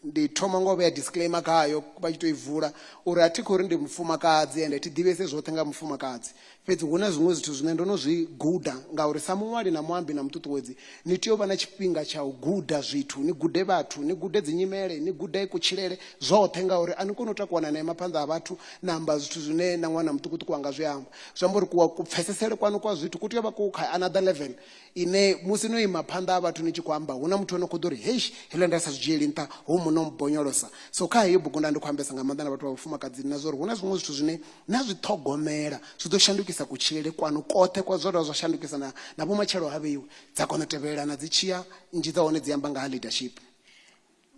ndi thoma nga u vhea disclaimer khayo vha tshi tou i vula uri a thi khou ri ndi mufumakadzi ende thi ḓivhese zwoṱhe nga ha mufumakadzi. Fhedzi hu na zwiṅwe zwithu zwine ndo no zwi guda, ngauri sa muṅwali na muambi na muṱuṱuwedzi, ni tea u vha na tshifhinga tsha u guda zwithu, ni gude vhathu, ni gude dzinyimele, ni gude kutshilele, zwoṱhe. Ngauri a ni koni u takuwa na ima phanḓa ha vhathu na amba zwithu zwine na ṅwana muṱukuṱuku a nga zwi amba. Zwi amba uri ku, kupfesesele kwaṋu kwa zwithu ku tea u vha ku kha another level ine musi no ima phanḓa ha vhathu ni tshi khou amba, hu na muthu o no khou ḓo ri, Heish, hezwiḽa nda sa zwi dzhieli nṱha, hoyu munna o mmbonyolosa. So kha heyo bugu nda ndi khou ambesa nga maanḓa na vhathu vha vhafumakadzini na zwa uri hu na zwiṅwe zwithu zwine na zwi ṱhogomela zwi ḓo shandukisa kutshilele kwanu koṱhe kwa zwo dovha zwa shandukisa na, na vhumatshelo ha vheiwe dza kona u tevhelelana dzi tshiya nzhi dza hone dzi amba nga ha leadership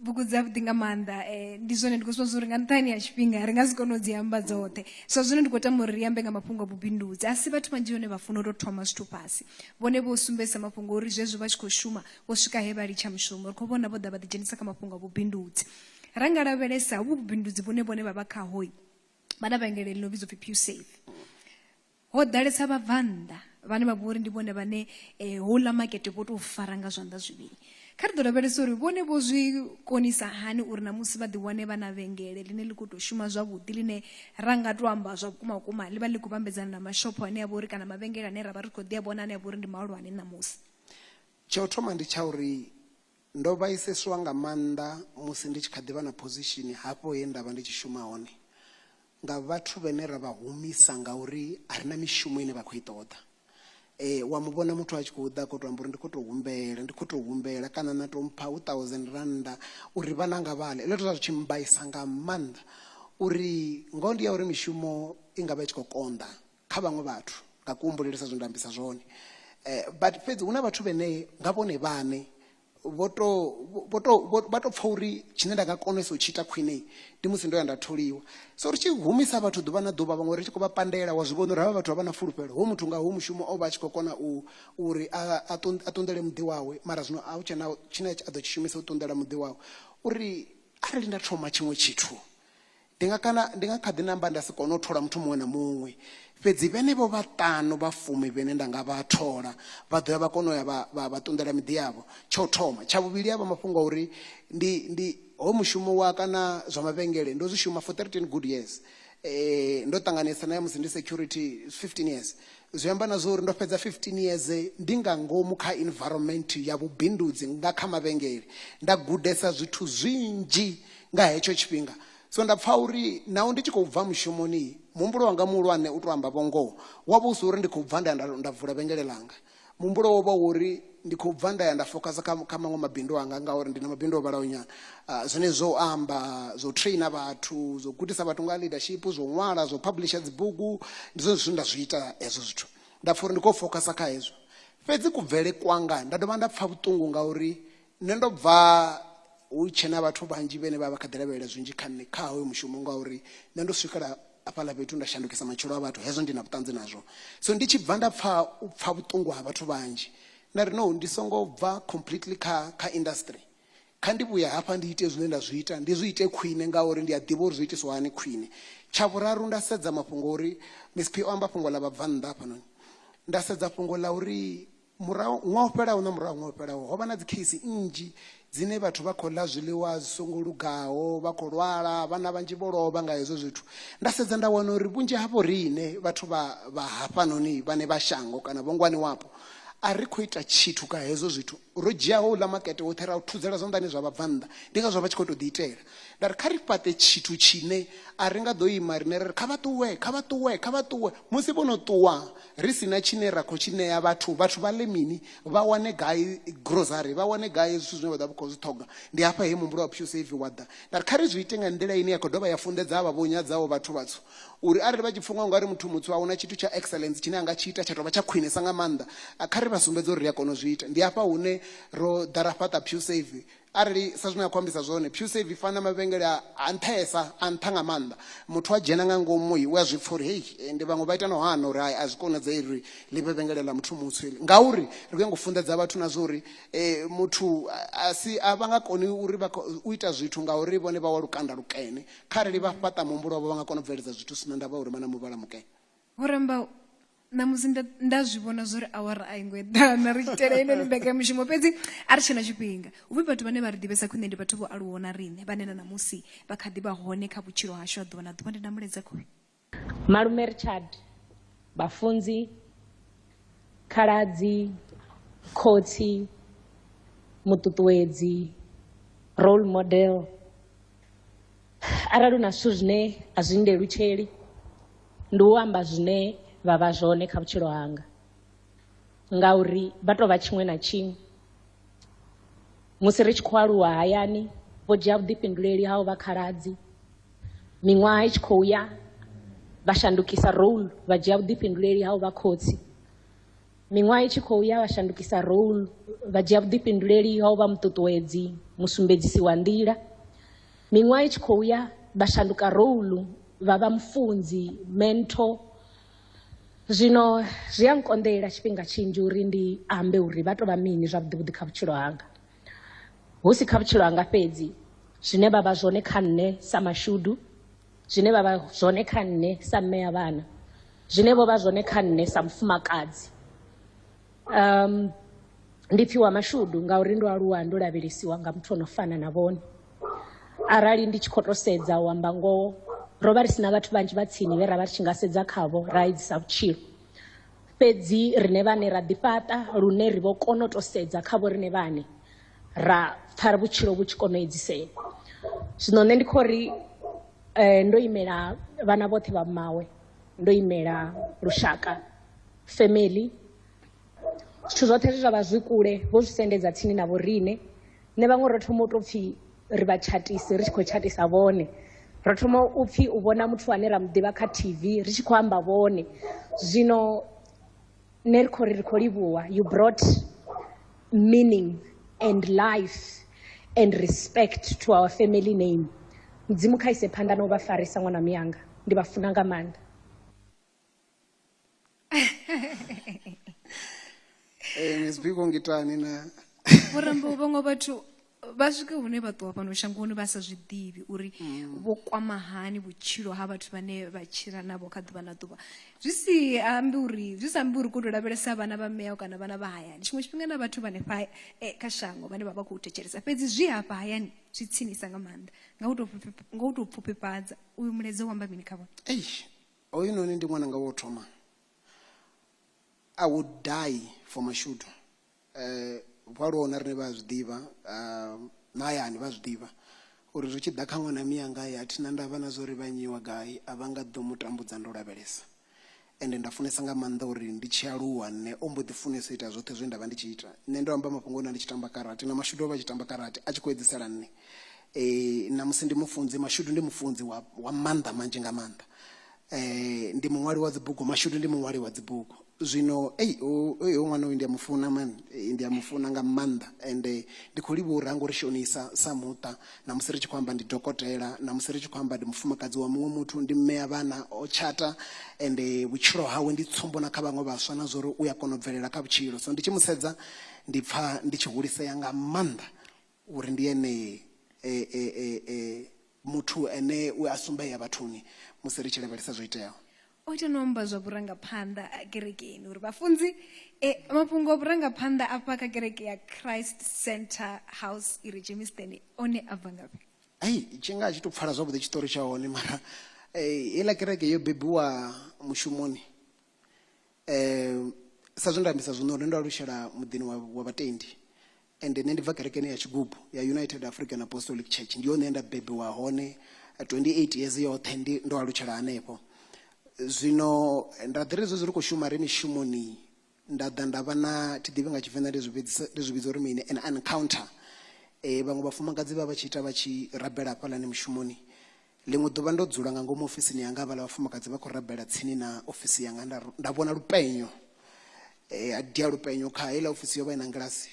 bugu dza vhuḓi nga maanḓa eh, ndi zwone ndi khou zwa uri nga nṱhani ya tshifhinga ri nga si kone u dzi amba dzoṱhe so zwino ndi khou tama uri ri ambe nga mafhungo a vhubindudzi a si vhathu vhanzhi vhone vha funa u tou thoma zwithu fhasi vhone vho sumbedzisa mafhungo uri zwezwo vha tshi khou shuma vho swika he vha litsha mushumo ri khou vhona vho ḓa vha ḓidzhenisa kha mafhungo a vhubindudzi ra nga lavhelesa uvhu vhubindudzi vhune vhone vha vha khahoi vha na vhengele ḽi no vhidzwa pfhi pusafe ho ḓalesa vhabvannḓa vhane vha vhori ndi vhone vhane um houḽa makete vho tou fara nga zwanḓa zwivhili kha ri ḓo lavhelesa uri vhone vho zwi konisa hani uri na musi vha ḓiwane vha na vhengele ḽine ḽi khou tou shuma zwavhuḓi ḽine ra nga tou amba zwa vhukuma vhukuma ḽi vha ḽi khou vhambedzana na mashopho ane a vha uri kana mavhengele ane ra vha ri khou ḓi a vhona ane a vha uri ndi mahulwane ṋamusi tsha u thoma ndi tsha uri Ndo vhaiseswa nga maanḓa musi ndi tshi kha ḓi vha na phozishini hafho he nda vha ndi tshi shuma hone nga vhathu vhane ra vha humisa ngauri a ri na mishumo ine vha khou i ṱoḓa. Wa mu vhona muthu a tshi khou ḓa a khou tou amba uri ndi khou tou humbela, ndi khou tou humbela kana na tou mpha u thousand rannda uri vhana vhanga vha ḽe. Hezwiḽa zwithu zwa zwi tshi mmbaisa nga maanḓa uri ngoho ndi ya uri mishumo i nga vha i tshi khou konḓa kha vhaṅwe vhathu nga kuhumbulele sa zwe nda ambisa zwone eh, but fhedzi hu na vhathu vhene nga vhone vhane vho to vho to vha to pfa uri tshine nda nga konesa u tshi ita khwine ndi musi ndo ya nda tholiwa so ri tshi humisa vhathu ḓuvha na ḓuvha vhaṅwe ri tshi khou vha pandela wa zwi vhona uri havha vhathu vha vha na fulufhelo ho muthu nga ho mushumo o vha a tshi khou kona u uri a ṱunḓele muḓi wawe mara zwino a hu tshena tshine a ḓo tshi shumisa u ṱunḓela muḓi wawe uri arali nda thoma tshiṅwe tshithu Ndi nga kana ndi nga kha ḓi namba nda si kone u thola muthu muṅwe na muṅwe, fhedzi vhenevho vhaṱanu vha fumi vhene nda nga vha thola vha ḓo ya vha kona u ya vha vha vha ṱunḓela miḓi yavho. Tsha u thoma, tsha vhuvhili a vha mafhungo a uri ndi ndi hoyu mushumo wa kana zwa mavhengele ndo zwi shuma for 13 good years ndo ṱanganesa na ya musi ndi security 15 years, zwi amba na zwa uri ndo fhedza 15 years ndi nga ngomu kha environment ya vhubindudzi nga kha mavhengele nda gudesa zwithu zwinzhi nga hetsho tshifhinga so nda pfa uri naho ndi tshi khou bva mushumoni muhumbulo wanga muhulwane u to amba vhongoho wa vha u si uri ndi khou bva nda ya nda- nda vula vhengele langa muhumbulo wo vha wori ndi khou bva nda ya nda fokasa kha kha maṅwe mabindu anga ngauri ndi na mabindu o vhalaho nyana Ah, zwone zwo u amba zwo traina vhathu zwo gudisa vhathu nga ha leadership zwo ṅwala zwo publisha dzibugu ndi zwone zwithu nda zwi ita hezwo zwithu nda pfa uri ndi khou fokasa kha hezwo fhedzi kubvele kwanga nda dovha nda pfa vhuṱungu ngauri nṋe ndo bva hu tshe na vhathu vhanzhi vhene vha vha kha ḓi lavhelela zwinzhi kha nṋe kha hoyo mushumo ngauri nṋe ndo swikela hafhaḽa fhethu nda shandukisa matshilo a vhathu hezwo ndi na vhuṱanzi nazwo so ndi tshi bva nda pfha u pfha vhuṱungu ha vhathu vhanzhi nda ri no ndi songo bva completely kha kha industry kha ndi vhuya hafha ndi ite zwine nda zwi ita ndi zwi ite khwine ngauri ndi a ḓivha uri zwi itiswa hani khwine tsha vhuraru nda sedza mafhungo uri msp o amba fhungo ḽa vhabvannḓa hafhanoni nda sedza fhungo ḽa uri murahu ṅwaha o fhelaho na murahu ṅwaha o fhelaho ho vha na dzikheisi nnzhi dzine vhathu vha khou ḽa zwiḽiwa zwi songo lugaho vha khou lwala vhana vhanzhi vho lovha nga hezwo zwithu nda sedza nda wana uri vhunzhi havho riṋe vhathu vha vha hafhanoni vhane vha shango kana vho ngwaniwapo a ri khou ita tshithu ka hezwo zwithu ro dzhiaho uḽa makete woṱhe ra u thudzela zwanḓani zwa vhabvannḓa ndi ngazwo vha tshi khou tou ḓiitela nda ri kha ri fhaṱe tshithu tshine a ri nga ḓo ima riṋe ri ri kha vha ṱuwe kha vha ṱuwe kha vha ṱuwe musi vho no ṱuwa ri si na tshine ra khou tshi ṋea vhathu vhathu vha ḽe mini vha wane gai grocery vha wane gai zwithu zwine vha ḓa vha khou zwi ṱhoga ndi hafha he muhumbulo wa pusave wa ḓa nda ri kha ri zwi ite nga nḓila ine ya khou dovha ya funḓedza avha vho nyadzaho vhathu vhatswu uri arali vha tshi pfha nga ungari muthu mutswu a huna tshithu tsha excellence tshine a nga tshi ita tsha tovha tsha khwinesa nga maanḓa kha ri vha sumbedze uri ri a kona u zwi ita ndi hafha hune ro ḓa ra fhaṱa pusave Arali sa zwine a khou ambisa zwone PureSave i fana na mavhengele a a nṱhesa, a nṱha nga maanḓa. Muthu a dzhena nga ngomu u a zwi pfa uri hei, ende vhaṅwe vha ita na u hana uri hai a zwi konadzei uri ḽi vhe vhengele ḽa muthu mutswu heḽi. Ngauri ri khou nyanga u funḓedza vhathu na zwa uri muthu a si, a vha nga koni uri vha u ita zwithu ngauri vhone vha wa lukanda lukene. Kharali vha fhaṱa muhumbulo wavho vha nga kona u bveledza zwithu hu si na ndavha uri vha na muvhala mukene. Vho ramba. ṋamusi nda nda zwi vhona zwo ri awara a i ngo eḓana ri tshi tela ine ni mbekanyamushumo fhedzi a ri tshena tshifhinga uvhi vhathu vhane vha ri ḓivhesa khwine ndi vhathu vho aluwaho na riṋe vhane na ṋamusi vha kha ḓi vha hone kha vhutshilo hashu a ḓuvha na ḓuvha ndi na muledza khoi malume richard vhafunzi khaladzi khotsi muṱuṱuwedzi role model Arali hu na zwithu zwine a zwi nndelutsheli ndi u amba zwine vha vha zwone kha vhutshilo hanga ngauri vha tou vha tshiṅwe na tshiṅwe musi ri tshi khou aluwa hayani vho dzhia vhuḓifhinduleli ha u vha khaladzi miṅwaha i tshi khou ya vha shandukisa role vha dzhia vhuḓifhinduleli ha u vha khotsi Miṅwaha i tshi khou ya, vha shandukisa role, vha dzhia vhuḓifhinduleli ha u vha muṱuṱuwedzi, musumbedzisi wa nḓila. Miṅwaha i tshi khou ya, vha shanduka role, vha vha mufunzi, mentor. Zwino zwi a nkonḓela tshifhinga tshinzhi uri ndi ambe uri vha tou vha mini zwavhuḓi vhuḓi kha vhutshilo hanga, hu si kha vhutshilo hanga fhedzi, zwine vha vha zwone kha nṋe sa mashudu. zwine vha vha zwone kha nṋe sa mme ya vhana zwine vho vha zwone kha nṋe sa mufumakadzi um ndi pfiwa mashudu ngauri ndo aluwa ndo lavhelesiwa nga muthu ono fana na vhone arali ndi tshi khou to sedza u amba ngoho ro vha ri si na vhathu vhanzhi vha tsini vhe ra vha ri tshi nga sedza khavho ra edzisa vhutshilo fhedzi rine vhane ra ḓifhaṱa lune ri vho kona u to sedza khavho rine vhane ra pfha vhutshilo vhu tshi kona u edzisea zwino nṋe ndi kho ri um ndo imela vhana vhoṱhe vha mmawe ndo imela lushaka family zwithu zwoṱhe zwe zwa vha zwi kule vho zwi sendedza tsini na vhoriṋe nṋe vhaṅwe ro thoma u tou pfhi ri vha tshatisi ri tshi khou tshatisa vhone ro thoma u pfhi u vhona muthu ane ra mu ḓivha kha tv ri tshi khou amba vhone zwino nṋe ri khou ri ri khou livhuwa you brought meaning and life and respect to our family name mudzimu kha ise phanḓa na u vha farisa ṅwana miyanga ndi vha funa nga maanḓa Eh, Miss Biko ngitani na. Vho Rambo vhaṅwe vhathu vha swike hune vha ṱuwa fhano shangoni vha sa zwi ḓivhi uri mm. vho kwama hani vhutshilo ha vhathu vhane vha tshila navho kha ḓuvha na ḓuvha zwi si ambi uri zwi sa ambi uri ko to lavhelesa vhana vha mea kana vhana vha hayani tshiṅwe tshifhinga na vhathu vhane fa eh, kha shango vhane vha vha khou thetshelesa fhedzi zwi hafha hayani zwi tsinisa nga maanḓa nga u to nga u to pfufhifhadza uyu mulaedza wamba mini kha vhone ei oyu noni ndi ṅwana nga wo thoma i would die for mashudu Vho aluwaho na riṋe vha a zwi ḓivha, na hayani vha a zwi ḓivha uri zwi tshi ḓa kha ṅwana mianga a thi na ndavha na zwa uri vha nyiwa gai a vha nga ḓo mu tambudza ndo lavhelesa. Ende nda funesa nga maanḓa uri ndi tshi aluwa nṋe o mbo ḓi funesa u ita zwoṱhe zwe nda vha ndi tshi ita. Nṋe ndo amba mafhungo na ndi tshi tamba karate na mashudu o vha a tshi tamba karate a tshi khou edzisela nṋe. Ṋamusi ndi mufunzi, mashudu ndi mufunzi wa wa maanḓa manzhi nga maanḓa. eh ndi muṅwali wa dzibugu mashudu ndi muṅwali wa dzibugu zwino ei oyo ṅwana uyu ndi a mu funa mani eh, ndi a mu funa nga maanḓa ende eh, ndi khou livha uri hango ri shonisa sa muṱa na musi ri tshi khou amba ndi dokotela na musi ri tshi khou amba ndi mufumakadzi wa muṅwe muthu ndi mme ya vhana o tshata ende eh, vhutshilo hawe ndi tsumbo na kha vhaṅwe vhaswa na zwori u ya kona u bvelela kha vhutshilo so ndi tshi mu sedza ndi pfha ndi tshi hulisea nga maanḓa Uri ndi ene e, e, e, e, muthu ane u a sumbea vhathuni musi ri tshi lavhelesa zwo iteaho. O ita na u amba zwa vhurangaphanḓa ha kerekeni uri vhafunzi e, mafhungo a vhurangaphanḓa afha kha kereke ya Christ Centre House i re Germiston one a bva ngafhi? Hei, tshi nga a tshi tou pfala zwavhuḓi tshiṱori tsha hone mara e, heiḽa kereke yo bebiwa mushumoni e, sa zwe nda ambisa zwino uri ndo alutshela muḓini wa, wa vhatendi Ende nṋe ndi bva kerekeni ya tshigubu ya United African Apostolic Church ndi hone he nda bebiwa hone 28 years yoṱhe ndi ndo alutshela hanefho zwino nda ḓiri zwezwi ri khou shuma ri mishumoni nda ḓa nda vha na thi ḓivhi nga tshivenḓa ndi zwi vhidzisa ndi zwi vhidza uri mini an encounter eh vhaṅwe vhafumakadzi vha vha tshi ita vha tshi rabela hafhaḽani mushumoni Ḽiṅwe ḓuvha ndo dzula nga ngomu ofisini yanga, havhaḽa vhafumakadzi vha khou rabela tsini na ofisi yanga. Nda, nda vhona lupenyo. E, ha dia lupenyo kha heiḽa ofisi yo vha i na ngilasi.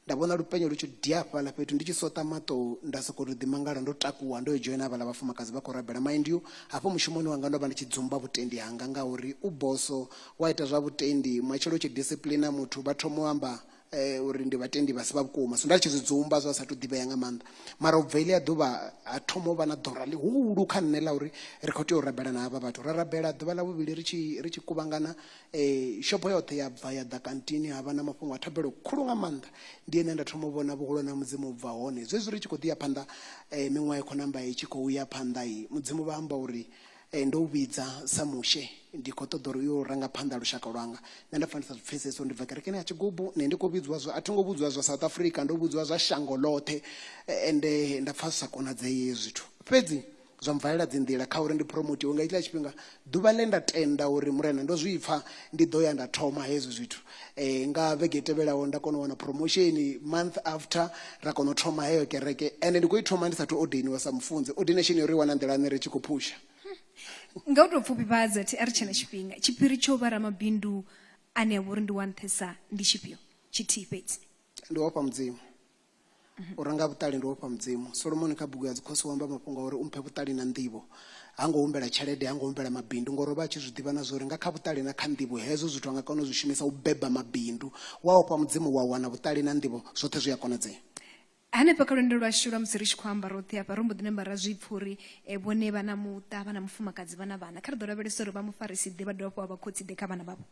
Nda vhona lupenyo lu tshi dia hafhaḽa fhethu. Ndi tshi soṱa maṱo, nda sokou tou ḓimangala ndo takuwa ndo yo dzhoina havhaḽa vhafumakadzi vha khou rabela. Mind you, hafho mushumoni wanga ndo vha ndi tshi dzumba vhutendi hanga ngauri u boso, u a ita zwa vhutendi. Matshelo u tshi disipuḽina muthu vha thoma u amba, eh, uri ndi vhatendi vha si vha vhukuma so nda tshi zwi dzumba zwa sa tou ḓivhea nga maanḓa mara u bva iḽi a ḓuvha ha thoma u vha na ḓora ḽihulu kha nṋe ḽa uri ri khou tea u rabela na havha vhathu ra rabela ḓuvha ḽa vhuvhili ri tshi ri tshi kuvhangana um eh, shopo yoṱhe ya bva ya ḓa kantini ha vha na mafhungo a thabelo khulu nga maanḓa ndi ene nda thoma u vhona vhuhulwane ha mudzimu u bva hone zwezwi ri tshi khou ḓi ya phanḓa um eh, miṅwaha i khou namba i tshi khou ya phanḓa i mudzimu vha amba uri Ee, ndo u vhidza sa mushe ndi khou ṱoḓa uri u yo ranga phanḓa lushaka lwanga nṋe nda pfa ndi sa zwi pfhesesi uri ndi bva kerekeni ya tshigubu nṋe ndi khou vhidziwa zwa a thi ngo vhudziwa zwa south africa ndo vhudziwa zwa shango ḽoṱhe Eh, ende nda pfa zwi sa konadzei hezwi zwithu fhedzi zwa mvalela dzi nḓila kha uri ndi promotiwe nga itshiḽa tshifhinga ḓuvha ḽe nda tenda uri murena ndo zwi pfa ndi ḓo ya nda thoma hezwi zwithu eh, nga vhege i tevhelaho nda kona u wana promotion month after ra kona u thoma heyo kereke ende ndi khou i thoma ndi sathu ordainiwa sa mufunzi ordination yo ri i wana nḓilani ri tshi khou phusha nga u tou pfufhifhadza thi a ri tshena tshifhinga tshiphiri tsho vha ramabindu ane a vha uri ndi wa nṱhesa ndi tshifhio tshithihi fhedzi ndi ofha mudzimu u renga vhuṱali ndi ofha mudzimu solomoni kha bugu ya dzikhosi u amba mafhungo a uri u mphe vhuṱali na nḓivho ha ngo humbela tshelede ha ngo humbela mabindu ngori o vha a tshi zwi ḓivha na zwori nga kha vhuṱali na kha nḓivho hezwo zwithu a nga kona u zwi shumisa u beba mabindu wa ofha mudzimu wa wana vhuṱali na nḓivho zwoṱhe zwi a konadzea hanefha kha lwendo lwashu lwa musi ri tshi khou amba roṱhe hafha ro mbo ḓi namba ra zwi pfha uri eh, vhone vha na muṱa vha na mufumakadzi vha na vhana kha ri ḓo lavhelesa uri vha mufarisi ḓe vha dovha fho vha vha khotsi ḓe kha vhana vhavho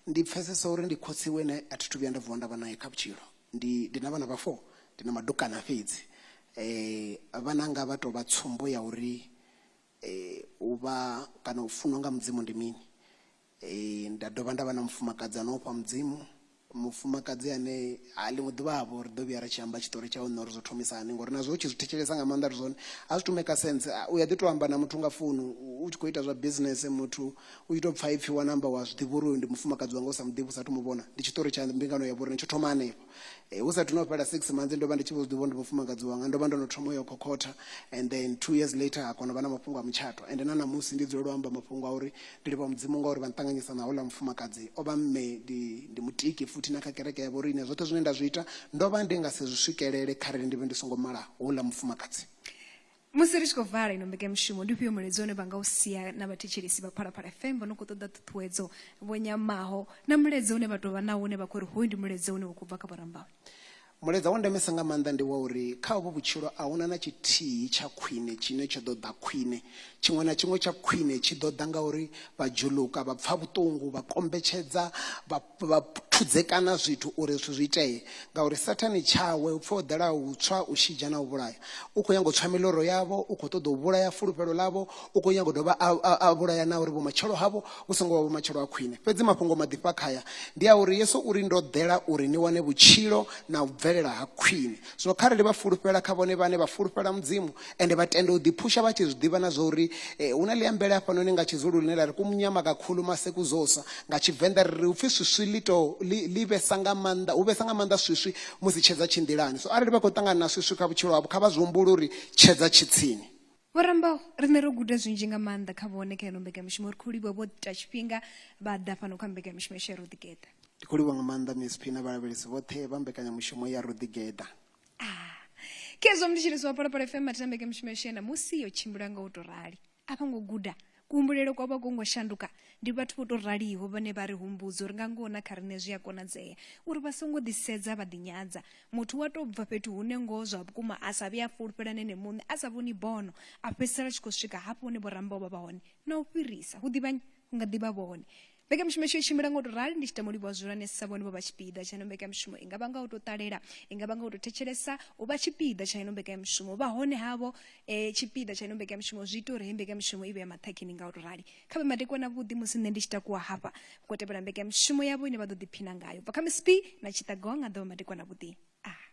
ndi pfesesa uri ndi khotsi wene a thi thu vhuya nda vuwa nda vha naye kha vhutshilo ndi ndi na vhana vha four ndi na madukana fhedzi vhananga vha tovha tsumbo ya uri u vha kana u funwa nga mudzimu ndi mini nda dovha nda vha na mufumakadzi ano ofha mudzimu mufumakadzi ane a ḽiṅwe ḓuvha vho ri ḓo vhuya ri tshi amba tshiṱori tshawe nṋe uri zwo thomisa hani ngori nazwo u tshi zwi thetshelesa nga maanḓa ri zwone a zwi to maker sense u ya ḓi to amba na muthu nga founu u tshi kho ita zwa business muthu U tshi tou pfa ipfi wa namba wa zwi ḓivha uri uyu ndi mufumakadzi wanga u sa mu ḓivhi u sathu mu vhona. Ndi tshiṱori tsha mbingano ya vhoriṋe tsho thoma hanefho. Hu sathu no fhela six months ndo vha ndi tshi vho zwi ḓivha uri ndi mufumakadzi wanga ndo vha ndo no thoma u yo khokhotha and then two years later ha kona u vha na mafhungo a mutshato ende na ṋamusi ndi dzulela u amba mafhungo a uri ndi livha mudzimu ngauri vha nṱanganyisa na houḽa mufumakadzi o vha mme ndi ndi mutiki futhi na kha kereke ya vhoriṋe zwoṱhe zwine nda zwi ita ndo vha ndi nga si zwi swikelele kharali ndi vhe ndi songo mala houḽa mufumakadzi. Musi ri tshi khou vala ino mbekanyamushumo, ndi ufhio mulaedza une vha nga u sia na vhathetshelesi vha Phalaphala FM vho no khou ṱoḓa ṱhuṱhuwedzo, vho nyamaho, na mulaedza une vha tou vha nawo une vha khou ri hoyu ndi mulaedza une wa khou bva kha vhurambane? Mulaedza wa ndemesa nga maanḓa ndi wa uri kha hovhu vhutshilo a hu na na tshithihi tsha khwine tshine tsho ḓo ḓa khwine. Tshiṅwe na tshiṅwe tsha khwine tshi ḓo ḓa ngauri vha dzhuluka, vha pfa vhuṱungu, vha kombetshedza, vha. vha thudzekana zwithu uri zwithu zwi itee ngauri sathane tshawe u pfa o ḓela u tswa u shidzha na u vhulaya u khou nyago tswa miloro yavho u khou ṱoḓa u vhulaya fulufhelo ḽavho u khou nyago dovha a vhulaya na uri vhumatshelo havho vhu songo vha vhumatshelo ha khwine fhedzi mafhungo maḓifha khaya ndi a uri yesu uri ndo ḓela uri ni wane vhutshilo na u bvelela ha khwine zwino kharali vha fulufhela kha vhone vhane vha fulufhela mudzimu ende vha tende u ḓiphusha vha tshi zwi ḓivha na zwa uri eh, hu na ḽiambele hafhanoni nga tshizulu ḽine ḽa ri kumunyama kakhulu masekuzosa nga tshivenḓa ri ri u pfhi swiswi ḽi to ḽi ḽi vhesa nga maanḓa hu vhesa nga maanḓa swiswi musi tshedza tshi nḓilani so arali vha khou ṱangana na swiswi kha vhutshilo havho kha vha zwi humbule uri tshedza tshi tsini Vho Rambau, riṋe ro guda zwinzhi nga maanḓa kha vhone kha ino mbekanyamushumo ri khou livhuwa vho ita tshifhinga vha ḓa fhano kha mbekanyamushumo ya Shero Ḓigeḓa. ndi khou livhuwa nga maanḓa msp na vhalavhelesi vhoṱhe vha mbekanyamushumo ya ro ḓigeḓa ah khezwo ndi tshi ri zwapalapala fm matitambeke mushumo yo shena musi yo tshimbila nga u to rali a vho ngo guda kuhumbulele kwa vha kongo shanduka ndi vhathu vho to raliho vhane vha ri humbudza uri nga ngoho na kha riṋe zwi a konadzea uri vha songo ḓisedza vha ḓinyadza muthu wa tou bva fhethu hune ngoho zwa vhukuma a sa vhe a fulufhela nene muṋe a sa vhoni bono a fhedzisela tshi khou swika hafho hune vho rambaho vha vha hone na u fhirisa hu ḓivhanye hu nga ḓivha vhone mbekanyamushumo isho i tshimbila nga u tou rali ndi tshi tama u livhuwa zwihulwanesa sa vhone vho vha tshipiḓa tsha ino mbekanyamushumo i nga vha nga u tou ṱalela i nga vha nga u tou thetshelesa u vha tshipiḓa tsha ino mbekanyamushumo vha hone havho um tshipiḓa tsha ino mbekanyamushumo zwi ita uri heyi mbekanyamushumo i vhe ya maṱhakheni nga u tou rali kha vhe madekwana avhuḓi musi nṋe ndi tshi takuwa hafha ngo tevhela mbekanyamushumo yavho ine vha ḓo ḓiphina ngayo bva kha miss b na tshiṱagowa nga ḓovha madekwana avhuḓi a ah.